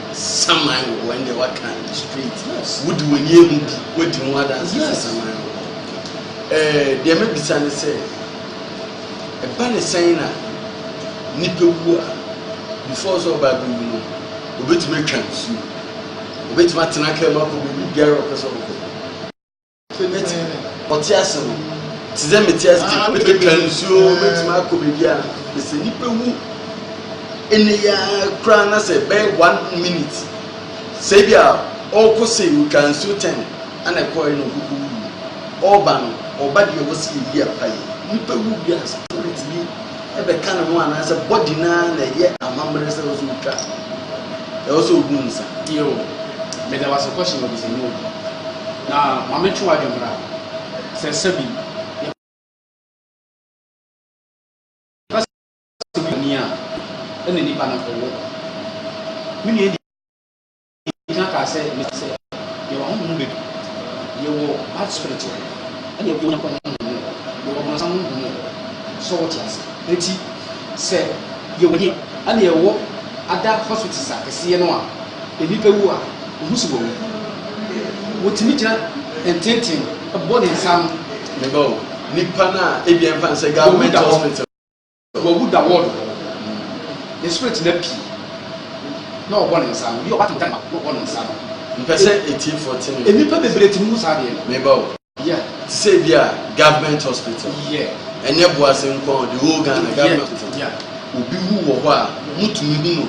Saman wɔ hɔ ɛndeɛ waka straight wode w'ani ahu bi wadi ho adanse sɛ saman wɔ hɔ ɛɛ deɛ mɛbisa ne sɛ ɛba ne sɛn na nipa wu a before sɛ ɔba abɛwu no obɛtumi atwa nsuo obɛtumi atena kaa mu akɔ baabi biara ɔpɛ sɛ ɔkɔ Mɛtumi ɔte ase no te sɛ mete ase ah, mɛtwa nsuo mɛtumi akɔ baabi a ɛsɛ nnipa wu ɛnɛ yɛ koraa na sɛ bɛyɛ one minute sɛ bi a ɔrekɔ sɛ ɔtwa nsuo tɛn ana ɛkɔ ɛna ɔkoko wu ɔreba no ɔba deɛ ɔwɔ sɛ yɛyi apa yi nnipa wu bi a spirit bi bɛka ne ho anaasɛ body no ara na ɛyɛ amammerɛ sɛ ɛwɔ sɛ ɔtwa, ɛwɔ sɛ ɔbu nsa. Yiw, meda wo ase Kwasi ma bisa mu obi. Na ma mentwe w'adwene mmra sɛ sɛbi yɛpɛ sɛ obi yɛ bɔne a, ɛnna nnipa no apo wo. Me nua di. Gyina kaa sɛ, Mise sɛ, yɛwɔ ahonhom no badu. Yɛwɔ bad spirit wɔ hɔ, ɛna yɛwɔ Onyankopɔn honhom wɔ hɔ, yɛwɔ ɔbonsam honhom wɔ hɔ. So wote ase? Enti sɛ yɛwɔ he, ɛna yɛwɔ ada hospitals a kɛseɛ no a, nnipa wu a, wohu se wɔawu. Wotumi gyina ntenten bɔ ne nsa ano. Meba o. Nnipa no a ebia yɛmfa no sɛ government hospital. Wɔawu da ward hɔ ne spirit no api na ɔbɔ ne nsa obi a ɔba tɛntɛn ma na ɔbɔ ne nsa no. Mpɛ sɛ atiefoɔ te no. Nnipa bebree te no mu saa adeɛ no. Meba o. Yeah. Te sɛ ebi a government hospital. Yeah. Ɛnyɛ Boase nko a o, the whole Ghana government hospital. Yeah. Obi wu wɔ hɔ a, motumi hu no.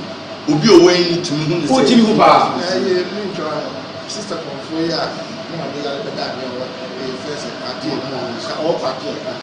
Obi a ɔwɔ ani no tumi hu no sɛ. Ɔtumi hu paa. Ɛyɛ me ntwa sister kɔmfoɔ yi a na ɔde yare bɛda adeɛ wɔ ɛyɛ fɛsɛ adeɛ mu a ɔwɔ paati a.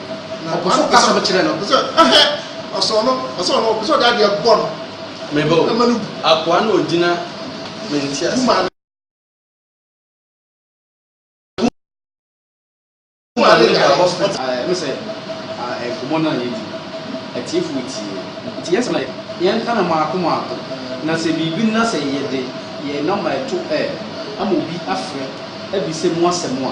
Na ɔpɛ sɛ ɔkasa no kyerɛ no. Ɔpɛ sɛ ɛhɛ ɔsɔ no ɔsɔ no ɔpɛ sɛ ɔde adeɛ bɔ no. Meba o, ɛma no bu. Akoa na ɔgyina me nteaseɛ. Gu maame ne ba hospital. Ɛno sɛ nkɔmmɔ no a yɛdi no atiefoɔ tie. Nti yɛn sɛm na yɛnka na mmaako mmaako. Na sɛ biribi na sɛ yɛde yɛn nɔma ɛto ɛ ama obi afrɛ abisa mu asɛm a.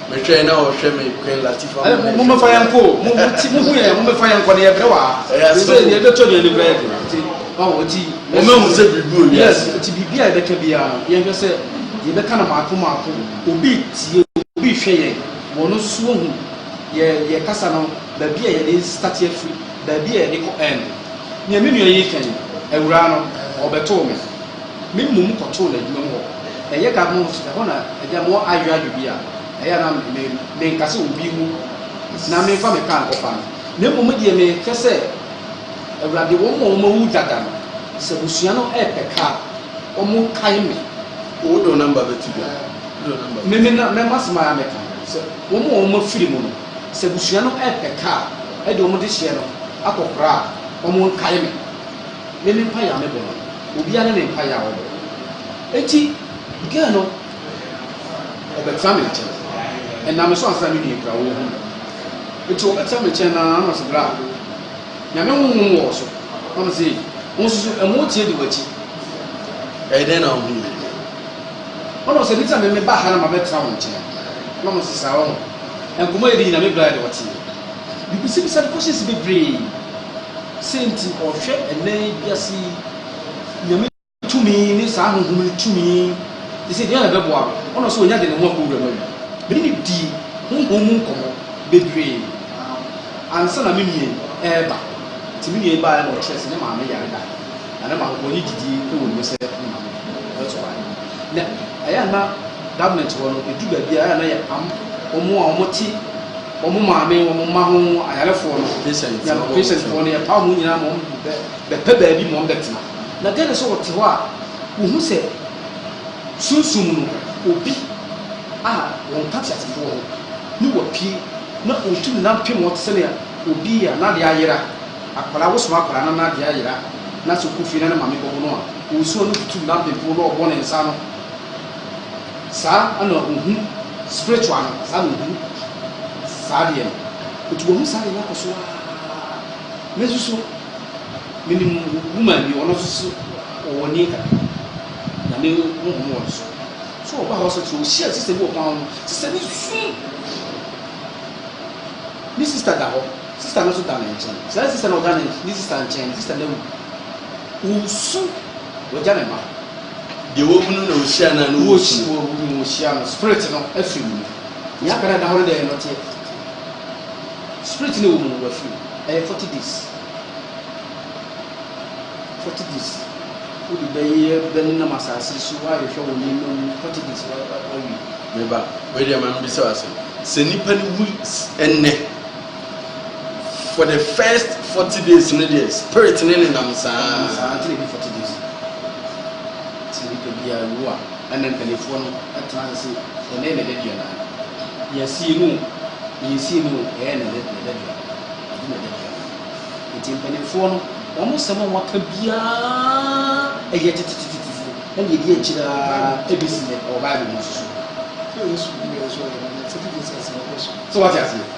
Mehwɛ yi na ɔhwɛ me Queen Latifah mo na ɛhwɛ mo fa yɛn kɔ o mo mo ti mo hu yɛn mo mɛ fa yɛn kɔ ne yɛ brɛ wa ɛyɛ asɛm o yɛ bɛ tɔ deɛ ne brɛ yɛ ti ɔn o ti mo mɛ hu sɛ biribi o yɛ yes ti biribi a yɛ bɛ kɛ bi a no yɛn hwɛ sɛ yɛ bɛ ka na maako maako obi tie obi hwɛ yɛ wɔn no so hu yɛ yɛ kasa no baabi a yɛ de start yɛ firi baabi a yɛ de kɔ ɛn nea mi nua yi kɛn awuraa no ɔbɛ too mi. Me mmom kɔtoo no adwuma mu hɔ. Ɛyɛ Gabon hɔ so, ɛhɔ na agya mewɔ adweadwe bi a ɛyɛ a na me menka sɛ obi wu na memfa me kaa nkɔfa no. Na mmom deɛ mehwɛ sɛ Awurade wɔn a wɔn awu dada no sɛ abusua no ɛɛpɛ kaa a wɔn kae me. Wo door number bɛto dwa. Me me na mɛma asɛm a mɛka no sɛ wɔn a wɔn afiri mu no sɛ abusua no ɛɛpɛ kaa a ɛde wɔn dehyeɛ no akɔ kora a wɔn nkae me. Me me mpaeɛ a mebɔ no obiara ne ne mpaeɛ a ɔbɔ enti girl no ɔbɛtra me nkyɛn ɛnam me so ansa na me nua kura ɔhu me enti ɔbɛtra me nkyɛn na ama se bra nyame honhom wɔ so na me se wo nso so ɛmo tie di w'akyi ɛyɛ dɛn na ɔhu me deɛ ɔna ɔsɛ nita me me ba ha na ma bɛtra wo nkyɛn na ɔmo se saa ɔho nkɔmɔ yɛ di nyina me bra yɛ de ɔteɛ Mibisabisa no questions bebree, sei nti ɔhwɛ ɛnnɛ wiase yi, Nyame tumi ne saa honhom no tumi te sɛ deɛn na ɛbɛboa no, ɔno nso ɔnya de ne ho akɔ wura mu awie. Mene no dii honhom mu nkɔmmɔ bebree ansa na me nua yi reba, nti me nua yi baeɛ na ɔkyerɛɛ sɛ ne maame yare daeɛ na ne maame ɔnye gyidie wɔ mu sɛ ne maame bɛtɔ daeɛ no na ɛyɛ a na government hɔ no ɛdu baabi a ɛyɛ a na yɛ am wɔn a wɔte Wɔn maame, wɔn mma ho ayarefoɔ no, peesɛntfoɔ no, yɛpaw wɔn nyinaa ma wɔbɛpɛ baabi ma wɔbɛtena. Na dɛn sɛ wɔte hɔ a, wɔhu sɛ sunsum mu no, obi a wɔnka teasefoɔ ho ne wo apue, na ɔretu ne nan pem wo te sɛnea obi a n'adeɛ ayera, akwadaa, wosom akwadaa na n'adeɛ ayera, na sɛ ɔkɔ fie na ne maame bɛwo no a, ɔresu a, na ɔretu ne nan pempem wo na ɔrebɔ ne nsa ano. Saa na ohu spiritual no, saa na ohu saa deɛ no. Nti wahu saa deɛ no akɔ so aa. Me nso so, menim woman bi, ɔno nso so ɔwɔ nie kakra. Nyame honhom wɔ ne so. So ɔba hospital, ɔhyia sister bi wɔ kwan ho, sister no su. Ne sister da hɔ, sister no nso da ne nkyɛn. Saa sister no ɔda ne sister nkyɛn no, sister no awu. Ɔsu, wagya ne mma. Deɛ wahunu na ɔhyia no a na ɔhunu. Wahunu na ɔhyia no. Spirit no afiri ne mu. Nea aka no ada hɔ no deɛ ɔteɛ. Spirit no ɛwɔ mu no wafiri mu. Ɛyɛ forty days. Forty days. Wode bɛyɛ bɛnenam asase so ahwehwɛ wo nneɛma mu forty days wawie. Meba, wei deɛ ma mebisa wo asɛm. Sɛ nipa no wu ɛnnɛ. for the first forty days no deɛ spirit ne ne nam saa. saa tiri ne forty days sɛ nipa bi awu a ɛna mpanimfoɔ no ɛtena ase sɛ ɛnɛ na ɛda dua na yɛsi no yɛsi no ɛyɛ na ɛda dua ɛdi na ɛda dua nti mpanimfoɔ no wɔn sɛm a wɔaka biara ɛyɛ tetetetetefoɔ ɛna yɛdi akyire a ebi si na ɛwɔ baibul mu nso so. sɛ wɔte aseɛ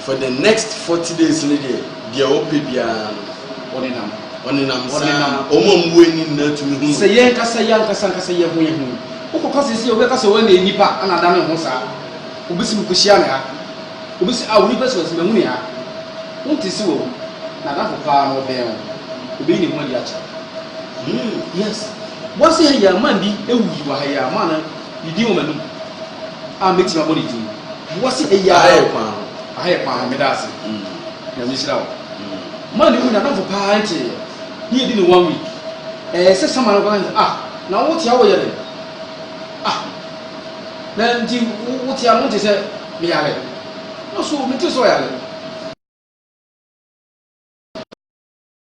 For the next forty days no deɛ, deɛ ɔpɛ biara no. Ɔnenam. Ɔnenam saa. Ɔnenam. Wɔn a wɔwɔ ani nyinaa tumi hu no. Sɛ yɛn ankasa yɛn ankasa ankasa yɛn ho yɛn ho yi, wokɔka sɛ sɛ obi aka sɛ wɔn na yɛ nipa na ada ne ho saa. Obi sɛ mekɔhyia no ha. Obi sɛ a onipa sɛ ɔsɛ mahu ne ha. Wonte sɛ wawu. N'adamfo paa no ɔbɛn wo. Obeyi ne ho adi akyerɛ wo. Hmm. Yes. Wɔn se ha yi a man bi awu yi wɔ ha yi a man no. Ne din wɔ m'anom a mɛtumi abɔ ne din. Boa se eyi ara o. Aha yɛ kwan o. Aha yɛ kwan o, meda ase. Nyame nhyira wo. Ma ne wu n'adamfo paa nteeɛ ne yɛdi no one week. Ɛyɛ sɛ Sama no koraa kaa sɛ ah na wo te a woyɛ dɛn? Ah na nti wo te a na wonte sɛ me yare? Na so mente sɛ ɔyare?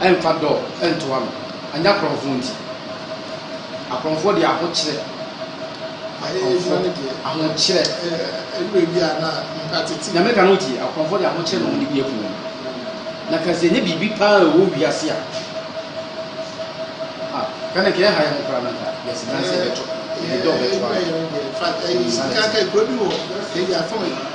Ɛmfa dɔ ntoa no, anyɛ akorɔmfoɔ nti. Akorɔmfoɔ deɛ ahokyerɛ, akorɔmfoɔ ahokyerɛ. Deɛ meka no wotie? Akorɔmfoɔ deɛ ahokyerɛ na wɔn de bi akum wɔn. Na ka sɛ ɛnyɛ biribi paa ɛwɔ wiase a, ah, ka na nka ɛha yɛn koraa na nka yɛsi dan sɛ ɛbɛtɔ, ɛde dɔ bɛtoa no. Insanity.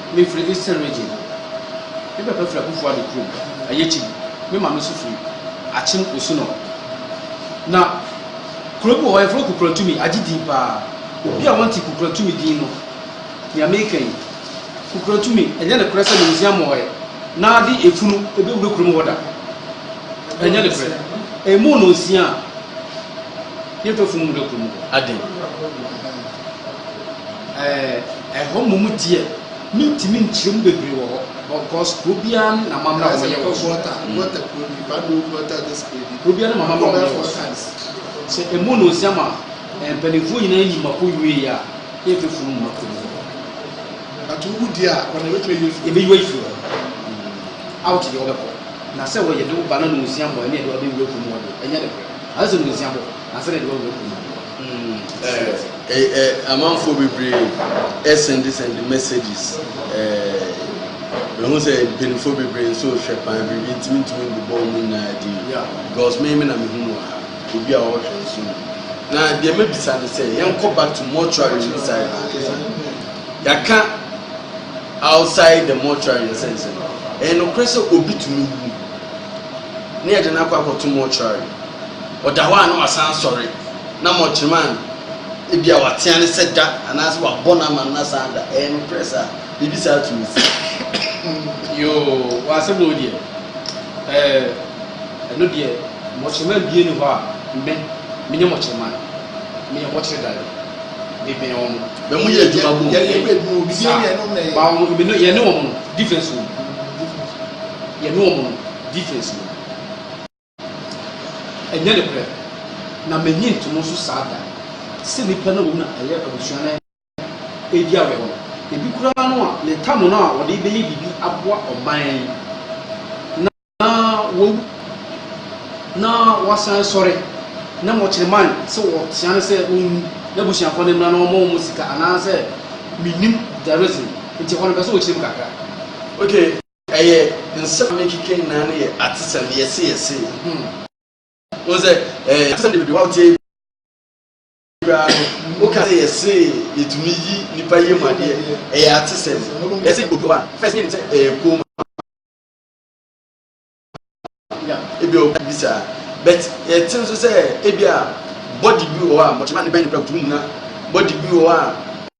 Mefiri Eastern Region. Me papa firi Akuffo Addo kurom, Ayekyi. Me maame nso firi Akyem Osunor. Na kuro bi wɔ hɔ yɛfrɛ no Kukurantumi, agye din paa. Obi a wante Kukurantumi din no, nea meka yi, Kukurantumi, ɛnyɛ nokorɛ sɛ Museum wɔ hɔ ɛ, na de efunu ɛbɛwura kurom hɔ da. Ɛnyɛ nokorɛ. Ɛmu nnɔnsia a, yɛntwa funu mu da kurom hɔ. Adɛn? Ɛɛ, ɛhɔ mmom deɛ, mentumi nkyerɛ mu bebree wɔ hɔ, because kuro biara ne n'amammerɛ a wɔyɛ wɔ so. Kuro biara ne n'amammerɛ a wɔyɛ wɔ so. Sɛ ɛmu no nsia ma mpanimfoɔ nyinaa yi mako wie a, na yɛfɛ funu mu mako mu. But wowu di a, wɔn na ebetumi ayi efiri. Ebeyi ayi firi hɔ. Out deɛ wɔbɛkɔ. Na sɛ wɔyɛ de wo ba na nsia mmɔ ɛne ɛde wɔbɛwura funu mu wɔde ɛnyɛ de korɛ. Asɛ nsia bɔ. Amanfoɔ bebree sɛnde sɛnde messages Mehu sɛ mpanimfoɔ bebree nso rehwɛ paa biribi nti mentumi mbobɔ wɔn nyinaa din because me me na mehu mu wɔ ha obi a ɔrehwɛ nso mu na deɛ mabisa no sɛ yɛnkɔ back to mortuary mu side na ankasa yɛaka outside the mortuary in sense no ɛyɛ nokorɛ sɛ obi tumi wu ne yɛde no akɔ akɔto mortuary Ɔda hɔ a na wasan asɔre, na mɔkyerema a ebia watea no sɛ da anaasɛ wabɔ no ama no na san da. Ɛyɛ nokorɛ saa? Biribi saa tumi si? Yoo, w'asɛm na wodeɛ. Ɛɛ, ɛno deɛ, mɔkyerema bie nni hɔ a me, menyɛ mɔkyerema. Meyɛ mɔkyere dade. Mebɛn wɔn. Bɛ mo yɛ adwuma bom. Yɛyɛ adwuma bom. Obi bie deɛ nom na ɛyɛ. Ba wɔn, me no, yɛne wɔn no, difference wɔ mu. Yɛne wɔn no, difference wɔ mu. Ɛnyɛ nokorɛ, na mennye nto mo so saa da, sɛ nnipa no wɔ mu na ɛyɛ abusua no a ɛredi awerɛhoɔ no, ebi koraa no a ne tam no a wɔde rebɛyɛ biribi aboa ɔman yi na wawu na wasan asɔre, na mokyere man sɛ wɔtea no sɛ ɔnwu n'abusuafoɔ no mmra na wɔmmɔ wɔn sika anaasɛ mennim the reason nti ɛhɔ no bɛsɛ wɔkyerɛ mu kakra. Okay. Ɛyɛ nsɛm a me keke nyinaa no yɛ atesɛm yɛse yɛse hmm wohu sɛ ɛyɛ atesɛm de bedewa woteɛ yi koraa no woka sɛ yɛse yɛtumi yi nipa yɛ mu adeɛ ɛyɛ atesɛm yɛse yi obi a first menim sɛ ɛyɛ kooma ebi a obi saa but yɛte nso sɛ ebi a body bi wɔ hɔ a mɔkyema ne bɛn ne pɛ wotumi nyina body bi wɔ hɔ a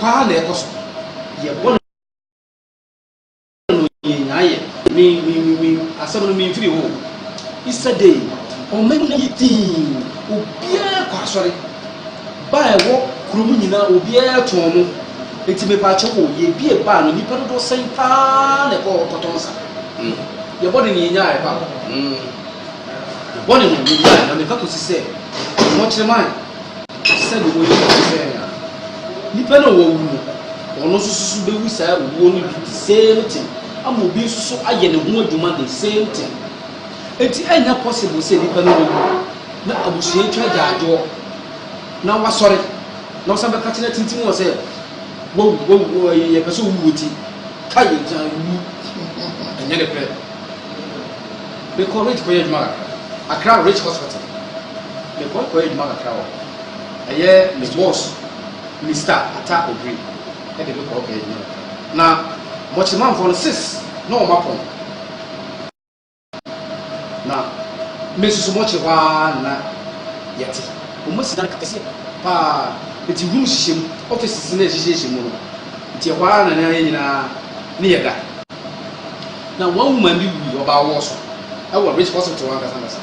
Paa na ɛkɔ so. Yɛbɔ no yɛn nyinaa yɛ me me me me asɛm no memfiri hɔ Easter day ɔma nyinaa yɛ dii obiara kɔ asɔre baa ɛwɔ kurom nyinaa obiara tɔn no nti mepaakyɛ wɔ yɛbie baa no nnipa dodoɔ sɛn paa na ɛkɔ hɔ kɔtɔn sa mm. yɛbɔ no ne yɛnyaa ɛba mm. yɛbɔ no ne yɛnyaa na meka kɔsi sɛ mmɔkyerɛ man Sɛdeɛ wɔyɛ no te sɛ yɛn ara. Nipa no a wawu no, ɔno nso so bɛwu saa owuo no bi the same thing, ama obi nso so ayɛ ne ho adwuma the same thing. Enti ɛnyɛ possible sɛ nipa no wawu na abusua atwa agyaadwoɔ na wasɔre na wɔsan bɛka kyerɛ atintim wɔ sɛ wawu, wawu, wawu, yɛpɛ sɛ owuo ti, ka yɛgya wu, ɛnyɛ ne pɛ. Mekɔ Rich kɔyɛ adwuma kakra Accra Rich Hospital mekɔ kɔyɛ adwuma kakra hɔ ɛyɛ me boss Mister Ata Obiri ɛde me kɔ hɔ kɔyɛ adwuma kakra na Mɔkyemanfoɔ no sis na wɔn apɔn na me nso so Mɔkye hɔ ara na yɛte wɔn asi dan akɛseɛ paa nti room hyehyɛ mu offices no ɛhyehyɛhyɛ mu no nti ɛhɔ ara na yɛn nyinaa ne yɛda. Na wɔn woman bi wui, ɔbaa wɔɔ so wɔ Rich Hospital ankasa ankasa.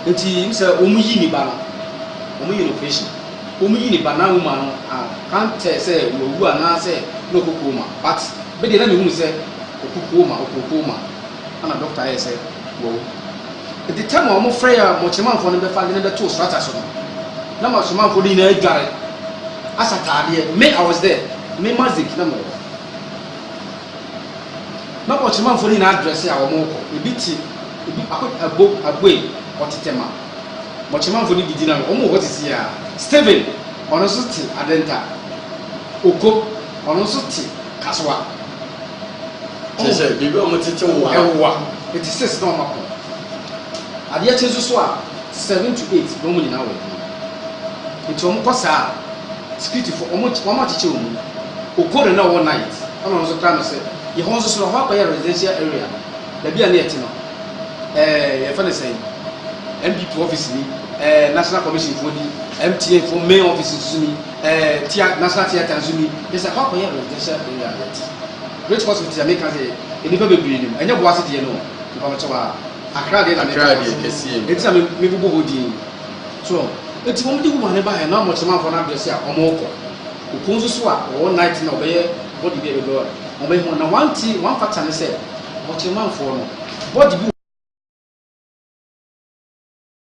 Nti n sɛ wɔn yi ne ba no, wɔn yɛ no operation. Wɔn yi ne ba na woman no a can't tell sɛ wawu anaa sɛ na ɔkɔ coma but me deɛ na mehunu sɛ ɔkɔ coma, ɔkɔɔ coma ɛna doctor yɛɛ sɛ wawu. Nti time a wɔn frɛ yɛ a mɔkyeremanfoɔ no bɛfa ade no bɛtoo strata so no, na mɔkyeremanfoɔ no nyinaa adware, asɛ ataadeɛ, me I was there, me Mazik na mewɔ hɔ. Na ɔkyerɛmanfoɔ no nyinaa adrɛse a wɔrekɔ. Ebi te, ebi ako abo aboe, ɔte Tema. Ma ɔkyerɛmanfoɔ no didi na wɔn wɔ hɔ sisi a. Stephen, ɔno nso te Adenta. Oko, ɔno nso te Kasoa. Kyerɛ sɛ biribi a wɔtete wo a. Ɛwoa. Eti six na wɔn ako. Adeɛ kye nso so a, Seven to eight na wɔn nyinaa wɔ adwuma nti wɔn kɔ saa a security fo wɔn wɔn akyekyɛ wɔn mu okoro na ɔwɔ night ɛna ɔno nso kra no sɛ yɛ hɔ nso so no hɔ akɔyɛ residential area baabi a ne yɛte no ɛɛ yɛ fɛ ne sɛn npp office ni ɛɛ national commission fo ni mtn fo main office nso ni ɛɛ tia national theatre nso ni yɛ sɛ hɔ akɔyɛ residential area na yɛte great hospital yɛ meka sɛ nnipa bebree nim ɛnyɛ boase deɛ no nnipa bɛkyɛ wɔ a Akra deɛ na meka Akra deɛ kɛseɛ mu. Enti na me me bobɔ hɔ din so enti wɔn de woman no baeɛ na wɔn kyemanfoɔ no address a wɔn rekɔ Opon nso so a wɔwɔ night na wɔbɛyɛ body bi a ɛbɛbɛ a wɔn bɛyɛ ho na one thing one factor ne sɛ ɔkyemanfoɔ no body bi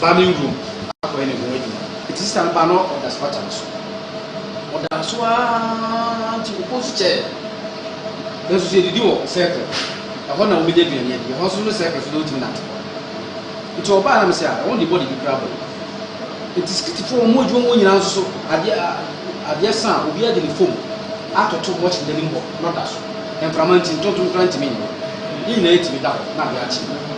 Bamming room akɔyɛ ne ho adwuma nti sista no baa na ɔda spata no so ɔdaa so aa nti ɔkɔ so kyɛɛ nanso sɛ yɛdidi wɔ circle ɛhɔ na wɔbɛnya aduane adi ɛhɔ so no circle so na ɔtumi nante hɔ nti ɔbaa na mesɛ a ɛwɔ de bɔde bi kora bɔ nti sikitifoɔ wɔn adwuma mu nyinaa nso so adeɛ adeɛ sa a obi adi ne fam atoto watch no anim hɔ na ɔda so mframa nti ntontom kora ntumi nyɛ ne nyinaa tumi da hɔ na adeɛ akye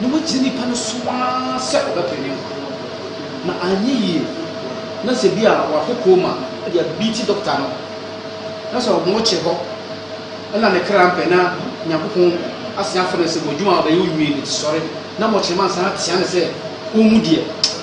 Na wagye nnipa no so ara sɛ ɔbɛpɛ ne nkwa, na anyɛ yie na sɛ bi a wakɔ kooma de abiiti dɔkta no, na sɛ ɔmo kye hɔ na ne kra mpɛ na Nyankopɔn asan afrɛ no sɛ, W'adwuma a w'bɛyɛ onwie no nti sɔre, na mɔkyerɛma nsan atea no sɛ ɔmmu deɛ.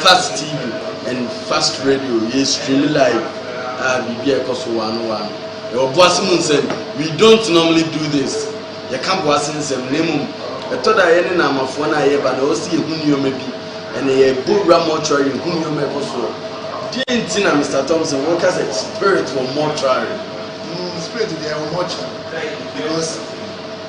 Fast TV and Fast Radio, yɛ stream live a biribi a ɛkɔ so wɔ ano wɔ ano. Yɛwɔ boase mu nsɛm, we don't normally do this, yɛka boase nsɛm, na mmom ɛtɔ da a yɛne Naamafoɔ no a yɛba na ɛwɔ sɛ yɛhu nneɛma bi, ɛnna yɛbɔ wura mortuary hu nneɛma a ɛkɔ soɔ. Deɛ nti na Mister Thompson woka sɛ spirit wɔ mortuary? Mm, spirit deɛ ɛwɔ mortuary because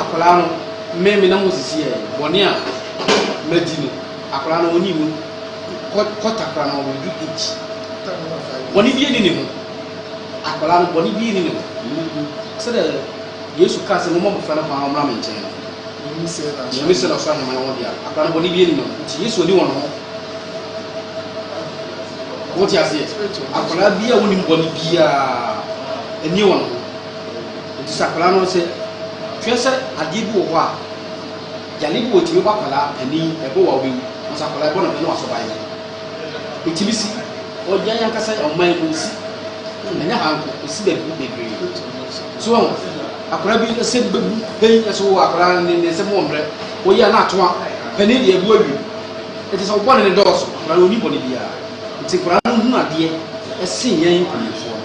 Akwadaa no, me, me na mosisi yɛɛ bɔne a madi no. Akwadaa no, ɔnni mu. Kɔ, kɔ takora no, we do each. Bɔne bi nni ne ho. Akwadaa no, bɔne bi nni ne ho. Sɛdeɛ Yesu kaa sɛ, Momma abɔfra no kwan na ɔmmra me nkyɛn no. Nyame sɛ na ɔsoro ahemman yɛ wɔn dea. Akwadaa no, bɔne bi nni ne ho. Nti Yesu anni wɔn ho. Mote aseɛ? Akwadaa bi a ɔnnim bɔne biara nni wɔn ho. Enti sɛ akwadaa no sɛ hwɛ sɛ adeɛ bi wɔ hɔ a, yadeɛ bi wɔ ɛtumi bɔ akwadaa ani, ɛbɔ wo a wobɛwu. Nanso akwadaa ɛbɔ no pɛ na wasɔ ban yɛ. Ɛtumi si ɔgyan ankasa yɛ ɔman mu ɛsi, ɛnyɛ ha nko, ɛsi baabi bebree. So wɔn akwadaa bi ɛsɛ bi bɛbu pɛn ɛsɛ wɔ akwadaa ne ne nsɛm wɔ mmerɛ wɔyɛ a na atoa pɛne deɛ ɛbu awie. Ɛti sɛ ɔbɔ ne ne dɔɔso akwadaa no ɔni bɔ ne biara. Nti akwadaa no hunu adeɛ ɛsen yɛn mpanimfoɔ no.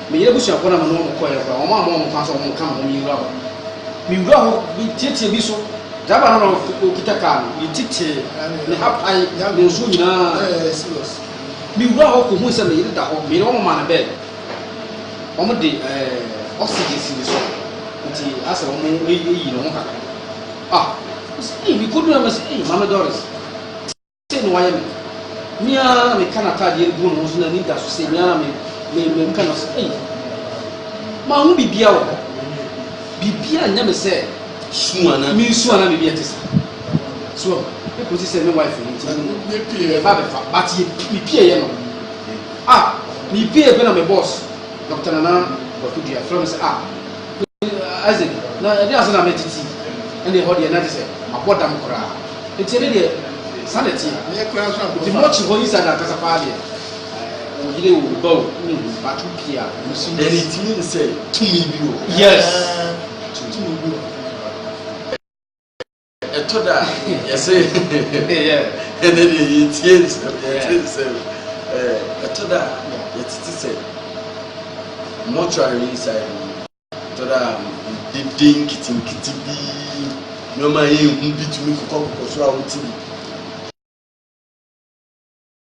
Meyɛ abusuafo na me ne wɔn kɔeɛ koraa. Wɔn a mewɔ wɔn kwan so a wɔka me ho no yewura hɔ. Mewura hɔ bi tiatia bi so. Driver no na ɔkita car no. Yetitee ne ha pae ne nsuo nyinaa. Mewura hɔ kɔhui sɛ me yere da hɔ. Me yere wɔn maa no bed. Wɔde oxygen si ne so nti asɛ wɔn reyi ne ho kakra. Ah, me kɔduru hɔ na mese, ei, Maame Doris. Sei na wayɛ me. Me ara na meka n'ataadeɛ no gu ne ho so n'ani da so sei, me ara na me me meka no sei. Manhu biribiara wɔ hɔ. Biribiara nyɛ me sɛ mensu anaa biribi ɛte saa. So ɔho, ɛkɔsi sɛ me wife no nti yɛba bɛfa, but mepieeɛ no. Ah, mepieeɛ pɛ na me boss, Dɔkta Nana Kwaku Duah, frɛ me sɛ ah, Isaac, na ɛde ase na mɛtete, ɛnna ɛhɔ deɛ na gye sɛ mabɔ dam koraa. Nti ɛde deɛ saa na ɛteɛ. Nti mɔkyi hɔ yi saa na ankasa paa deɛ wɔyere wo ba o ne hu bato pii a wɔn si. Ɛna ɛtumi ne sɛ tumi bi wɔ. Yes. Tumi bi wɔ. Ɛtɔ da a, yɛse ɛnɛ deɛ yɛtie nsɛm, yɛte nsɛm. Ɛtɔ da a, yɛtete sɛ mortuary inside no. Ɛtɔ da a, dede nketenkete bi, nneɛma a yɛnhu bi tumi kokɔkokɔ soro a wote bi.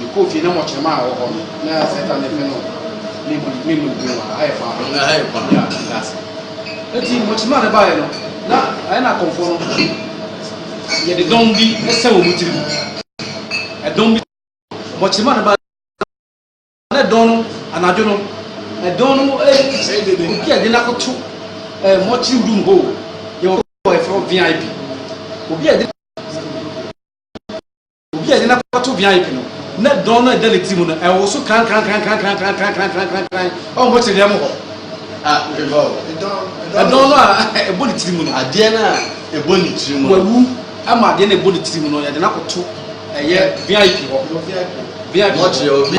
Mekɔɔ fie na mɔkyerema a wɔhɔ no na ayɛ sɛ tane pɛ no ne bu ne no gu a ha yɛ fa ho ha yɛ fa ya gas eti mɔkyerema no baeɛ no na ayɛ na akɔmfoɔ no yɛde dɔm bi sɛ wɔn tiri mu ɛdɔm bi mɔkyerema no baeɛ na ɛdɔn no anadwo no ɛdɔn no obi a de n'akoto ɛɛ mɔkyere room hɔ yɛ wɔ ɛfɛ vip obi a de Obi a yɛde no akɔto beaeɛ no, na dɔn no a ɛda ne ti mu no, ɛwoso krankrankrankrankrankrankran wɔ mmokyerɛdeɛ mu hɔ. Ah, ɛdɔn. Ɛdɔn no a ɛbɔ ne tiri mu no. Adeɛ no a ɛbɔ ne tiri mu. Wawu ama adeɛ no a ɛbɔ ne tiri mu no, yɛde no akɔto ɛyɛ VIP hɔ. VIP. Mɔkyerɛ obi.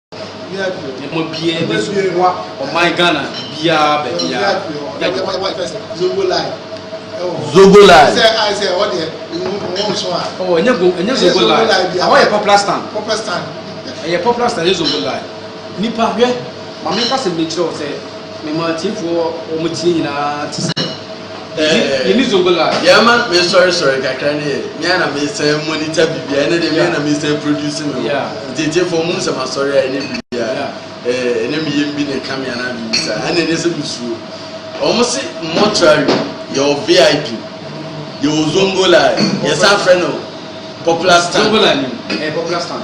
ɛma biara bi so ɔman ghana biara baabiara zogolai oh, ɛnyɛ zogolai ɛhɔ yɛ popular stand ɛyɛ popular stand ɛyɛ zogolai nipa hwɛ maame kasa mi kyerɛ wo sɛ mema atiefoɔ wɔn tie nyinaa te sɛ Yɛma me sɔre sɔre kakra ne yɛ me ana me sɛ monitor bibia ɛne de me ana me sɛ produce me ho ntietiefo mu sɛ masɔre a ɛne bibia ɛne me yɛm bi ne ka me ana biribi saa ɛne ne sɛ musuo wɔn se mortuary yɛwɔ vip yɛwɔ zongo line yɛsan frɛ no popular stand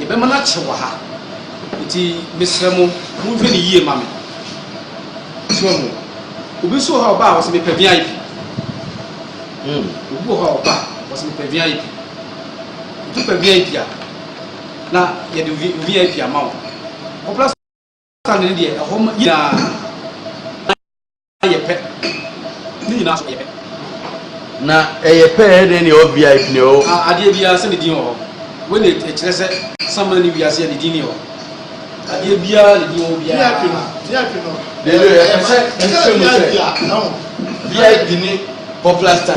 Yɛbɛma no akye wɔ ha. Enti mesrɛ mo, monhwɛ no yie ma me. So wahu? Obi nso wɔ hɔ a ɔba a, ɔse, Mepɛ VIP. Hmm, obi wɔ hɔ a ɔba a, ɔse, Mepɛ VIP. Enti wopɛ VIP a, na yɛde VIP ama wo. Kɔpra so. Satan no deɛ ɛhɔ ma nyinaa yɛ pɛ. Ne nyinaa so yɛ pɛ. Na ɛyɛ pɛ ɛyɛ dɛn ne ɛwɔ VIP ne ɛwɔ. A adeɛ biara sɛ ne din wɔ hɔ. Wei na ɛkyerɛ sɛ saman ne wiase yɛ ne din ne wɔ. Adeɛ biara ne din wɔ biara. VIP no VIP no. Dede yɛ pɛ sɛ ɛsɛ mu sɛ. VIP ne popular star.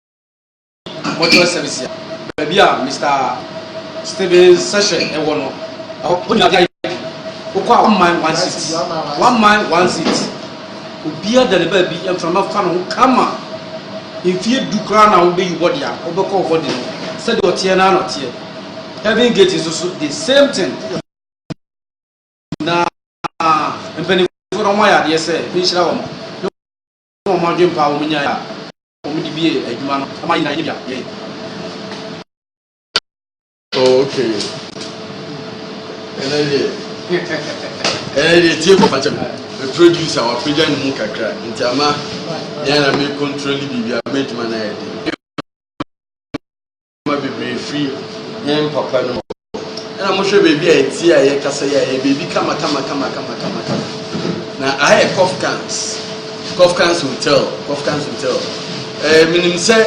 Mortuary service a baabi a Mister Stephen Session ɛwɔ no ɛhɔ ɔnyina bi ayɛ wokɔ a one man one seat one man one seat obiara da ne baabi mframa fa no ho kama mfie du koraa na wobɛyi bɔde a wobɛkɔ wo bɔde no sɛdeɛ ɔteɛ no ana ɔteɛ heaven gate nso so the same thing na mpanimfoɔ no ɔmo ayɛ adeɛ sɛ menhyira wɔn ne wɔn adwempa a wɔnyae a wɔn de bie adwuma no ma yɛn nyinaa yɛn yɛn. Oh, okay. ɛnɛ deɛ ɛnɛ deɛ tie kɔ fakyɛ me producer wapagya ne mu kakra nti ama yɛn na me control biribi a mɛntuma no ayɛ den nneɛma bebree firi yɛn papa no hɔ. Ɛna mohwɛ baabi a ɛteɛ a ɛyɛ kasa yi a ɛyɛ baabi kama kama kama kama kama kama. Na aha yɛ Kofkans. Kofkans hotel, Kofkans hotel. Ɛɛ eh, menim sɛ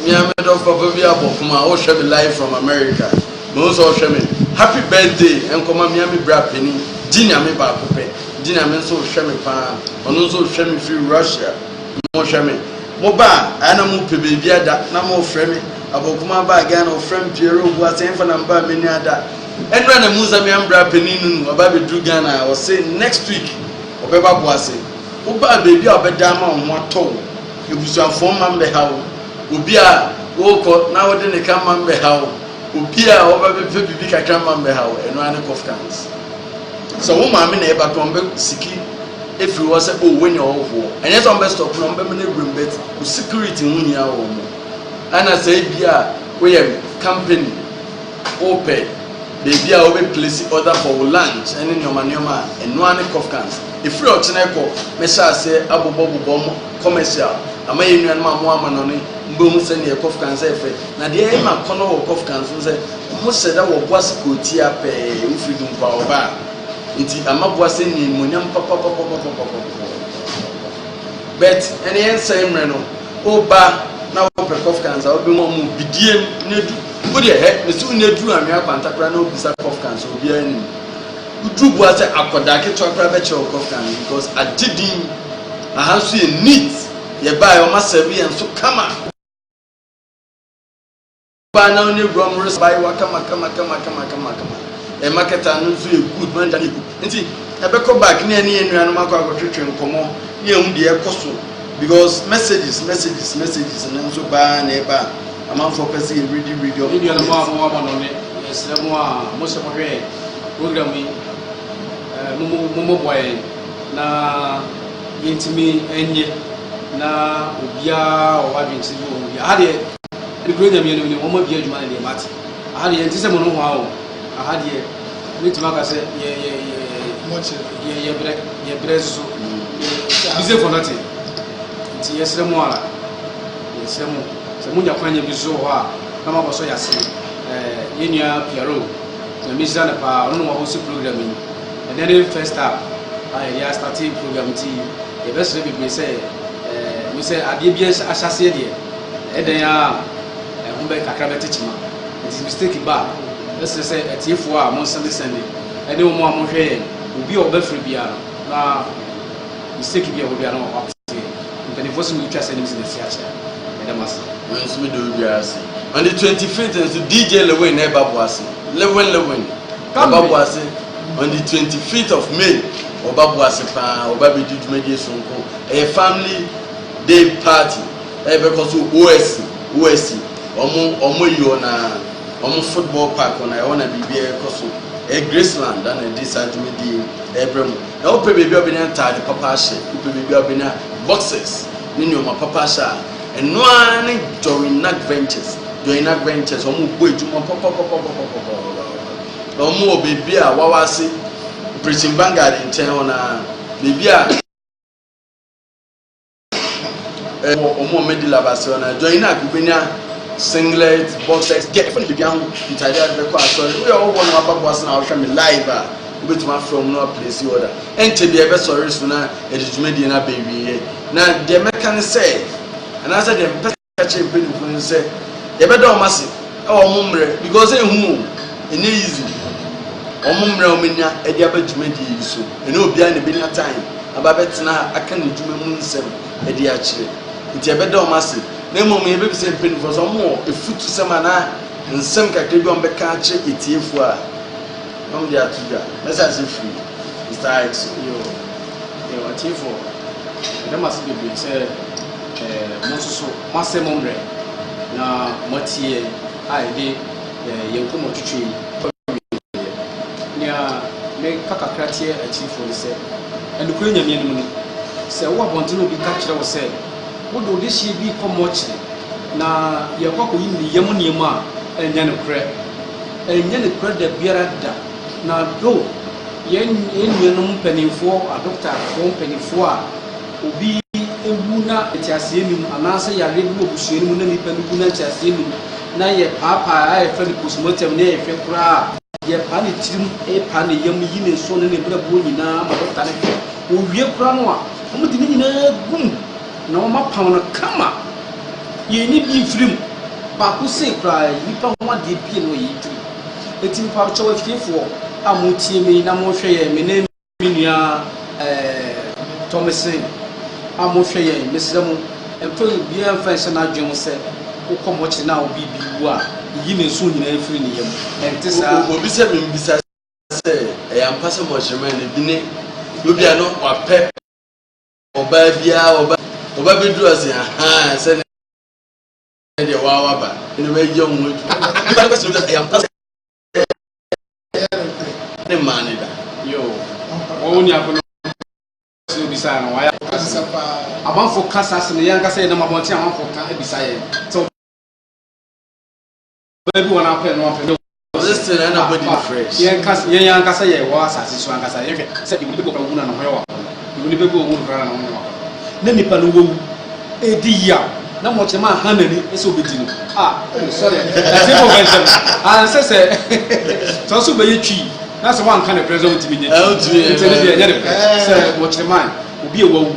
mmea me dɔfo papa bi abɔ fam a ɔrehwɛ me live from America. Mo nso ɔrehwɛ me. Happy birthday nkɔma mmea me bra panin. Gye nyame baako pɛ. Gye nyame nso rehwɛ me paa. Ɔno nso rehwɛ me firi Russia. Monhwɛ me. Mo ba a, ayɛ na mo pɛ baabi ada, na mo refrɛ me. Aboakuma baa Ghana, ɔfrɛ me Pierre Obua sɛ yɛmfa no amber a m'ani ada. Ɛnora na Musa me ambra panin no nu, ɔba bɛduru Ghana a, ɔse next week ɔbɛba Boase. Wo ba a, baabi a ɔbɛda ama wo ho atɔ wo, abusuafoɔ mma mbɛha wo, obi a worekɔ na wode ne ka mma mbɛha wo, obi a ɔba bɛpɛ biribi kakra mma mbɛha wo, ɛno ara ne Kofkans. Sɛ wo maame na ɛba koraa, ɔmbɛ siki. firi hɔ sɛ oh wei neɛ ɔhohoɔ ɛnyɛ sɛ ɔmbɛ stop no ɔmbɛ mene awuram but wo security ho hia wɔ mo ɛna sɛ ebi a woyɛ company wopɛ baabi a wobɛ place order for wo lunch ɛne nneɛma nneɛma a ɛnoa ne cough cans ɛfiri ɔkyena kɔ mɛhyɛ aseɛ abobɔ bobɔ mo commercial ama yɛ nnuanom a mo ama no ne mbɛhu sɛ neɛ cough cans ɛfɛ na deɛ ɛma kɔnɔ wɔ cough cans no sɛ ɔmo hyɛ da wɔ boase kɔ tia pɛɛ wofiri dunkwa ɔbaa Enti ama boa sɛ nya animuonyam papapapapapapapapapa. But ɛne yɛn nsɛe mmerɛ no, woba na wopɛ kɔfka nsa, wobɛhu ɔmo bidiem ne du. Wodeɛ hɛ, mese wo ne duru anwea kwanta koraa na wobisa kɔfka nsa, obiara nim. Woduru boa sɛ akɔdaa ketewa koraa bɛkyerɛ wo kɔfka no because agye din. Aha nso yɛ neat, yɛbaeɛ ɔmo asɛve yɛn so kama. Baa na ɔne wura mu resa abayewa kama kama kama kama kama kama. Ɛma kɛtɛ ano nso yɛ good manja ne gu. Nti ɛbɛkɔ back ne ɛne yɛn nuanom akɔ akɔtwetwe nkɔmmɔ ne ɛhu deɛ ɛkɔ so because messages messages messages no nso baa na ɛba amanfoɔ pɛ sɛ yɛ ready ready ɔmo. Ne nuanom a mo wɔ abɔnɔ ne ɛsrɛ mo a mo sɛ mo hwɛ program yi mo mo mo mo bɔ yɛn na yɛntumi ɛnyɛ na obiara ɔwɔ adwene sɛ bi wɔ ho bi aha deɛ. Ɛne kuro nyameɛ nom ne wɔn adua adwuma ne deɛ but aha deɛ yɛnte sɛ mo no hoa o aha deɛ mɛtumi aka sɛ yɛ yɛ yɛ yɛ brɛ yɛ brɛ nso busy for nothing nti yɛsrɛ mo ara yɛsrɛ mo sɛ monya kwan nya bi so hɔ a na mabɔ so yɛase yɛnua piaro nyame hyira no paa ɔno na wɔhɔ si program yi ɛnɛ ne first up a yɛde astate program nti yɛbɛsrɛ bebree sɛ me sɛ adeɛ bi ahyɛseɛ deɛ Ɛdɛn ara a, ɛho bɛ kakra bɛte kyema. Enti mistake ba a, ɛsrɛ sɛ atiefo a monsɛndesɛnde ɛne wɔn a monhwɛ yɛn obi a ɔbɛfrɛ biara no na mistake bi a ɛwɔ biara na wama wɔate yɛn. Mpaninfoɔ se wotwa sɛ ne mese masi akyɛ a, meda mo ase. Me nso meda obiara ase. On the 25th nso DJ Lewin na ɛba Boase. Lewin Lewin na ɛba Boase on the 25th of May. Ɔba Boase paa, ɔba bɛdi dwumadie sononko. Ɛyɛ family day party. Ɛ bɛ kɔ so osi osi ɔmo ɔmo ayi hɔ na ɔmo football park hɔ na ɛhɔ na biribi ɛ kɔ so ɛ Graceland da na ɛde saa dwumadie yi ɛ brɛ mo na wo pɛ baabi a wo bɛnya ntaade papa ahyɛ wo pɛ baabi a wo bɛnya boxers ne nnoɔma papa ahyɛ a ɛno ara ne Joynac Ventures Joynac Ventures ɔmo bɔ adwuma pɔpɔpɔpɔpɔpɔpɔpɔpɔpɔ na ɔmo wɔ baabi a wawa ase Operation Vanguard nkyɛn hɔ na baabi a. ɛwɔ wɔn a wɔadi lab asɛm no adwa yi na wobɛnya singlet boxers deɛ ɛfa no biribi ho ntaade a bɛkɔ asɔre woyɛ ɔwɔ no aba boase na wohwɛ me live a wobɛtumi afrɛ wɔn na waplesi ɔda ɛnkyɛ deɛ ɛbɛsɔre so na ɛde dwumadie no abɛwieɛ na deɛ mɛka ne sɛ anaasɛ deɛ mpɛ Ka kyerɛ mpanyimfo no sɛ yɛbɛda wɔn ase wɔ wɔn mmerɛ because ehu o ɛnyɛ easy wɔn mmerɛ wɔn anya ɛde aba dwumadie yi so ɛne obiara na ɛbɛnya time aba bɛtena aka ne dwuma mu nsɛm ɛde akyerɛ nti yɛbɛda wɔn ase na mmom yɛbɛbisɛ mpanyimfo sɛ wɔn wɔ efutu sɛm anaa nsɛm kakra bi wɔn bɛka akyerɛ etiefo a wɔn de ato dwa mɛsa ase firi mr ix. Yo, yo, atiefo, yɛda mo ase bebree sɛ Mo nso so moasɛe mo mmerɛ, na moatie yɛn a yɛde yɛn nkɔmmɔ twetwee kɔwieeɛ. Nea meka kakra teɛ akyirifoɔ ne sɛ, Nokorɛ Nyame anim no, sɛ wo abɔntene obi ka kyerɛ wo sɛ, Wode wo dehyeɛ bi rekɔ mɔɔkyere, na yɛrekɔ akɔyi ne yam nneɛma a, ɛnyɛ nokorɛ. Ɛnyɛ nokorɛ da biara da. Na dɔ yɛn nuanom mpanimfoɔ, adɔkotafoɔ mpanimfoɔ a. obi wu na nteaseɛ nni mu, anaasɛ yareɛ bi wɔ abusua no mu na nipa no wu na nteaseɛ nni mu, na yɛpaapaa a yɛfrɛ no postmortem na yɛhwɛ koraa a, yɛpa ne tirim, pa ne yam, yi ne nso ne ne brɛboɔ nyinaa ma dɔkta no hwɛ. Wɔwie koraa no a, wɔde ne nyinaa gu mu na wɔapam no kama. Yɛnyi bi mfiri mu. Baako sei koraa yi, nipa ho adeɛ bi na ɔyɛ yi tiri. Enti mepaakyɛw afiefoɔ a motie me na mohwɛ yɛn, me ne Me nua eh, Thomason a mohwɛ yɛn, mesrɛ mo mfa obiara mfa nhyɛ n'adwene mu sɛ wokɔ mɔkyere na obi bi wu a, yiyi ne nsow nyinaa mfiri ne yam. Ɛnte saa. Obi sɛ me mbisa sɛ ɛyɛ ampa sɛ mɔkyerema no bi ne obi a no wapɛ ɔbaa biara ɔba ɔba bɛduru ase ahaa sɛ ne deɛ wawa ba ne bɛyɛ ho adwuma. Ɛyɛ ampa sɛ ne mmaa no da. Amanfo ka saa asɛm yɛn ankasa yɛnam abɔnten amanfo ka abisa yɛn sɛ ɔbaa bi wɔn apɛ no apɛ no yɛn ankasa yɛn ankasa yɛ wɔ asase so ankasa yɛhwɛ sɛ ebi bɔ kan wu na ne ho yɛ wɔ Mede bɛgu wɔn mu biara na wɔne no aba. Na nnipa no wawu, ɛredi yaw, na mɔkyerɛ maa Hanah ani sɛ ɔbɛdi no. Ah, oh, sɔre, ɛte bɔ bɛ nsam. Ah, ɛnsɛ sɛ, sɛ ɔso bɛyɛ twi, na sɛ wanka ne pɛ sɛ ɔntumi nyɛ twi. Nti ne deɛ ɛnyɛ ne pɛ sɛ mɔkyerɛ maa obi a wawu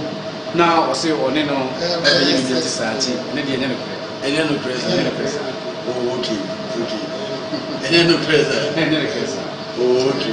na ɔse ɔne no bɛyɛ biribi ɛte saa, nti ne deɛ ɛnyɛ no korɛ. Ɛnyɛ no korɛ saa. Ɛnyɛ no korɛ saa. Oh, okay, okay. Ɛnyɛ no korɛ saa. Ɛnyɛ no korɛ saa. Oh, okay.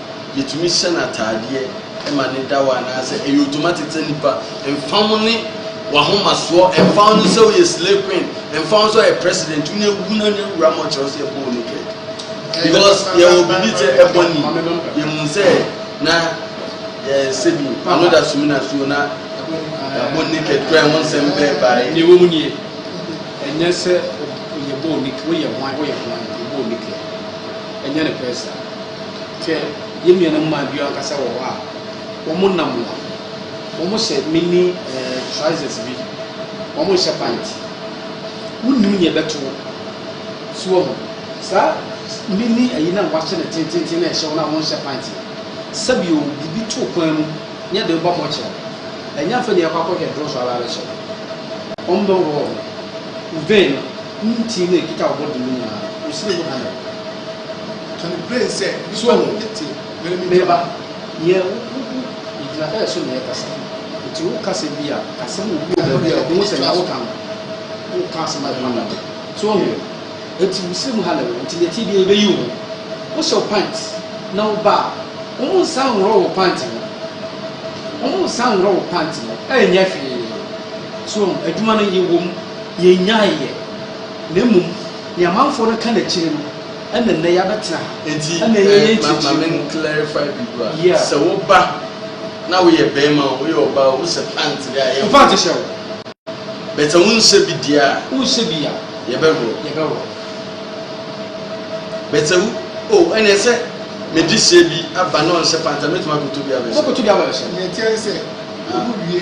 Yɛtumi hyɛ no ataadeɛ ma no da hɔ anaasɛ ɛyɛ automatic sɛ nipa mfa ho ne wahomasoɔ mfa ho ne sɛ woyɛ slay queen mfa ho sɛ ɔyɛ president wo ne awu na ne awura ma ɔkyerɛ wo sɛ yɛbɔ wo naked because yɛwɔ biribi sɛ ɛbɔ ni yɛhu sɛ na yɛn sɛ bi ano da sumi na suo na yɛabɔ naked kora ɛho nsɛm bɛɛ bae ne wɔ mu nie ɛnyɛ sɛ yɛbɔ naked woyɛ hwan woyɛ hwan yɛbɔ naked ɛnyɛ ne pɛsa Hwɛ, yɛn nuanom mmaa bi ankasa wɔ hɔ a wɔnam hɔ. Wɔhyɛ mini eh, trousers bi. Wɔnhyɛ pant. Wonnim nea ɛbɛto wo. So wɔn saa mini ayi no a wɔahyɛ no tententen na ɛhyɛ wɔn a wɔnhyɛ pant no. Sɛbio biribi to kwan mu na ɛde woba mɔkyerɛ. Ɛnyɛ afei na yɛkɔ akɔhwɛ duro so aba abɛhyɛ wo. Wɔbɛhohoro wo ho. Wo vein no, wo ti no a ɛkita wo body mu nyinaa no, wo siri ho ha na ɛwɔ. So me ba, yɛ wo ho gu ne gyinapɛɛ so na ɛkasa. Enti wo kasa bi a, kasa mu bi wɔ baabi a obi hu sɛ nea wo ka no, wo ka asɛm a ɛfata de. So woahu? Enti wo srɛ mu ha na ɛwɔ. Enti nea ɛteɛ biara yɛbɛyi wo ho. Wo hyɛ wo pant na wo ba a, wɔn nsa nhorɔ wo pant no. Wɔn nsa nhorɔ wo pant no. Ɛnyɛ hwee. So woahu? Adwuma no yɛ wɔ mu, yɛ nyae yɛ. Na mmom, nea amanfoɔ no ka no akyire no, Ɛna nnɛ yɛabɛtena ha. Enti ma ma men clarify biribi wa. Yeah. Sɛ wo ba na wo yɛ bɛɛma o, wo yɛ ɔbaa o, wo sɛ pant deɛ a yɛ. Pant hyɛ wo. But sɛ wo nsɛ bi deɛ a. Wo nsɛ bi a. Yɛ bɛ wɔ. Yɛ bɛ wɔ. But sɛ wo o ɛna sɛ me de sɛ bi aba na ɔnsɛ pant a, mɛtumi akɔtɔ bi abɛsɛ. Wobɛkɔtɔ bi abɛsɛ. Nea ɛteɛ ne sɛ, ogu wie.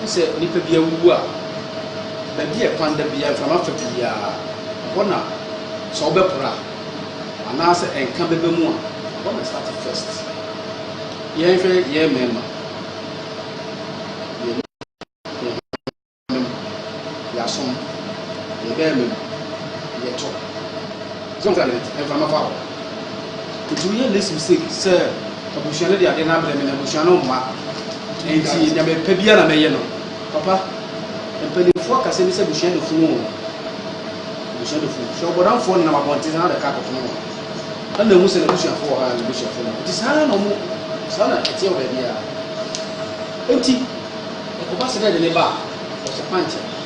Hu sɛ nnipa bi awuwu a, baabi a ɛpan da biara mframa fa pii a, ɛhɔ na sɛ wobɛpra anaasɛ ɛnka bɛba mu a, ɛhɔ na start first. Yɛnhwɛ yɛn mmarima, yɛn nuanom, yɛasom, yɛn barima mu, yɛtɔ. Sɛ mframa fa hɔ. Otumi yɛ ne sumsek sɛ abusua no de adeɛ no abrɛ me na abusua no mma nti deɛ mepɛ biara na mɛyɛ no. Papa, mpanimfoɔ akasɛm bi sɛ abusua de funu o, abusua de funu. Hwɛ ɔbɔdamfoɔ nenam abɔnten saa na ɔde kaa kɔfom no. Ɛna hu sɛ n'abusuafoɔ wɔ ha a n'abusuafoɔ no nti saa na ɔmo saa na ɛteɛ wɔ baabiara. Nti ɛkɔba sɛ dɛ de ne ba a ɔhyɛ pankyɛ.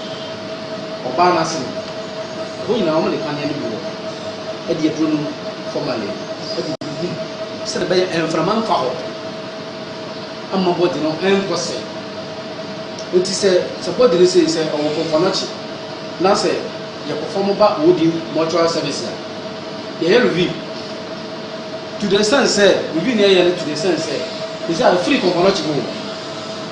Ɔbaa no ase no, ɛhɔ nyinaa wɔde paneɛ no bi wɔ hɔ, ɛde aduro no fam ayɛ agu gu mu sɛdeɛ ɛbɛyɛ mframa mfa hɔ ama body no nkɔ sɛ. Nti sɛ sɛ body no sei sɛ ɔwɔ kɔnkɔnɔkye na sɛ yɛ perform ba wodi mortuary service a, yɛyɛ review to the extent sɛ review no yɛyɛ no to the extent sɛ sɛ sɛ afiri kɔnkɔnɔkye mu o.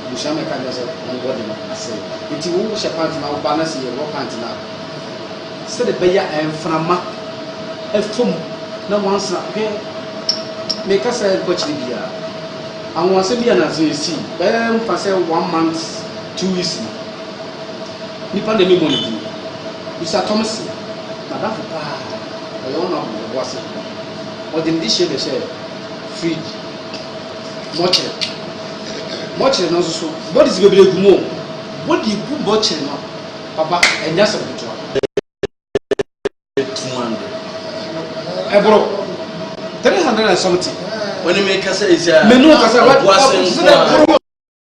Ebusua me ka kyerɛ sɛ wɔn body no asɛe nti wo hyɛ pant na wo ba na sɛ yɛ raw pant no a sɛdeɛ ɛbɛyɛ a mframa ɛfam na wansa hwɛ me ka sɛ nkɔ akyire biara anwanwasɛm bi anansa ɛsii bɛyɛ mfa sɛ one month two weeks no nipa na ɛmemmɔ ne din bisa Thompson madamfo paa ɔyɛ honourable ɔboase ɔde ne de hyɛ bɛhyɛ fridge. Bɔkyere bɔkyere no nso so bɔde si bebree gu mu o bɔde gu bɔkyere no papa ɛnyɛ asɛm ketewa two hundred ɛboro three hundred and something wɔn ne mi kasa yi sɛ menu kasa wɔn wɔn sɛ ɛboro.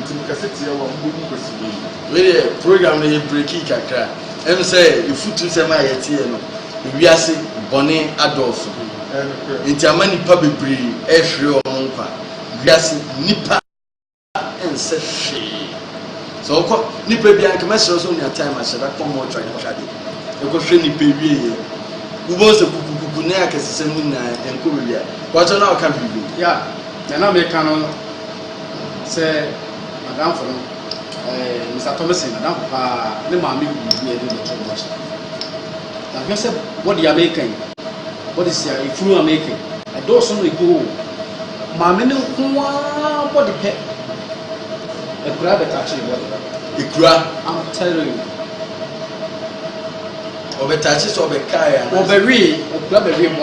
Nti me kɛse tia wo a mo bɛ wu kwasi bɛyi. Wei deɛ program no yɛ breakii kakra ɛm sɛ ɛfutu sɛm a yɛteɛ no ewiase bɔne adɔɔso nti ama nipa bebree ɛhwere ɔmo nkwa wiase nipa ɛnsɛ hwee sɛ ɔkɔ nipa bi anka mɛsrɛ sɛ onya time ahyɛda kɔ mɔtwa yɛ kade ɛkɔ hwɛ nipa ewie yɛ wobɔ sɛ kukukuku ne akɛsesɛm no nyinaa ɛnkɔ wawia wɔkyɛ na ɔka biribi ya na na meka no Sɛ m'adamfo no ɛɛ Mister Thomason m'adamfo paa ne maame wu na yɛde no bɛtoo mortuary. Na hwɛ sɛ body a meka yi, bodies a efunu a meka yi, ɛdɔɔso na egu hɔ o. Maame no nko ara body pɛ, akuraa bɛtakyee body no. Akuraa? I'm telling you. Ɔbɛtakyee sɛ ɔbɛkae anaa? Ɔbɛwee, akuraa bɛwee body.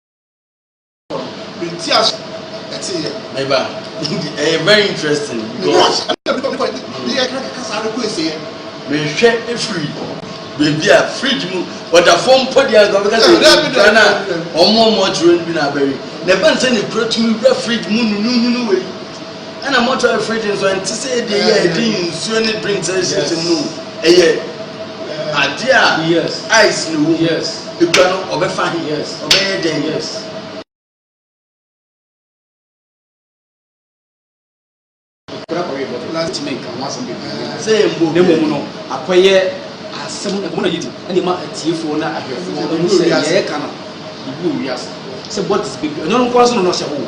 Menti ase ɛte yɛ. Meba. Ɛyɛ very interesting. Because ɛna bi kɔ ne yɛ kasa no kɔ ese yɛ. Mehwɛ efiri beebi a fridge mu ɔda fam mpo deɛ nka bɛka sɛ ɛdwa na wɔn a wɔkyerɛ no bi na abɛwe. Na ɛbɛn sɛ ne kura tumi wura fridge mu nunununu wei. Ɛna mortuary fridge nso ɛnte sɛ yɛde yɛ ɛde nsuo ne drinks ɛhyehyɛ mu ɛyɛ adeɛ a ice na ɛwɔ mu ekura no ɔbɛfa he ɔbɛyɛ dɛn. sɛ yɛn bɔ na mmom no akɔyɛ asɛm ɛbɔ na yɛdi ɛna ɛma atiefoɔ na ahwɛfoɔ ɛmu sɛ yɛɛka no yɛbu owiase sɛ what is baby ɛnyɛ no nkoa so no na ɔhyɛ hoo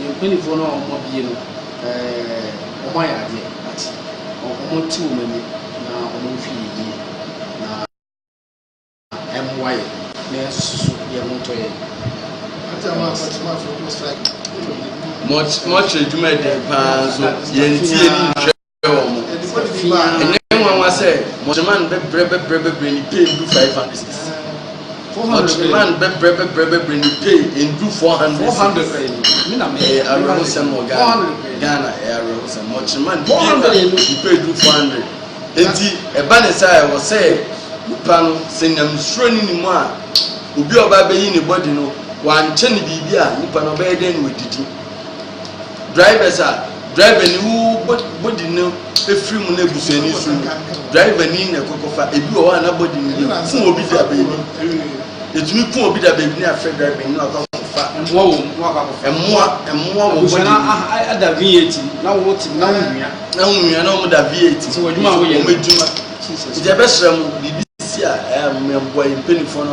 Yɛn mpaninfoɔ no a wɔn abue no, wɔn ayɛ adeɛ, ate, wɔn ate wɔn ani na wɔn nhwɛ yɛn yie na ɛmmoa yɛn na yɛnsusu yɛn ho ntɔ yɛn. Mortuary dwumadie paa nso yɛntie ne nhwɛ. bɛbrɛ wɔn. Ɛnyɛ nwanwa sɛ Mɔtreman bɛbrɛ bɛbrɛ bɛbrɛ ne pay ndu five hundred cedis. Mɔtreman bɛbrɛ bɛbrɛ bɛbrɛ ne pay ndu four hundred cedis. Ɛyɛ awerɛhosɛm wɔ Ghana. Ghana ɛyɛ awerɛhosɛm. Mɔtreman pay ne pay du four hundred. Eti ɛba ne saa ɛwɔ sɛ nipa no sɛ nyamesuro ne ne mu a obi a ɔba abɛyi ne bɔdi no wankyɛ ne biribi a nipa no ɔbɛyɛ dɛn na wadidi. Drivers a driver ni wo bɔ body no efiri mu na ebusua ni so driver ni na ɛkɔkɔfa ebi wɔ hɔ a na body no yɛ fun obi da beebi etumi kun obi da beebi ne afɛ driver ni na wakɔ akɔfa ɛmoa wɔ mu ɛmoa ɛmoa wɔ body no ada VAT na wo ti na wo nua na wo nua na wɔn da VAT sɛ wɔn adwuma a wɔyɛ wɔn adwuma nti ɛbɛsrɛ mo biribi si a ɛyɛ a mo ɛboa yɛ mpanyinfoɔ no.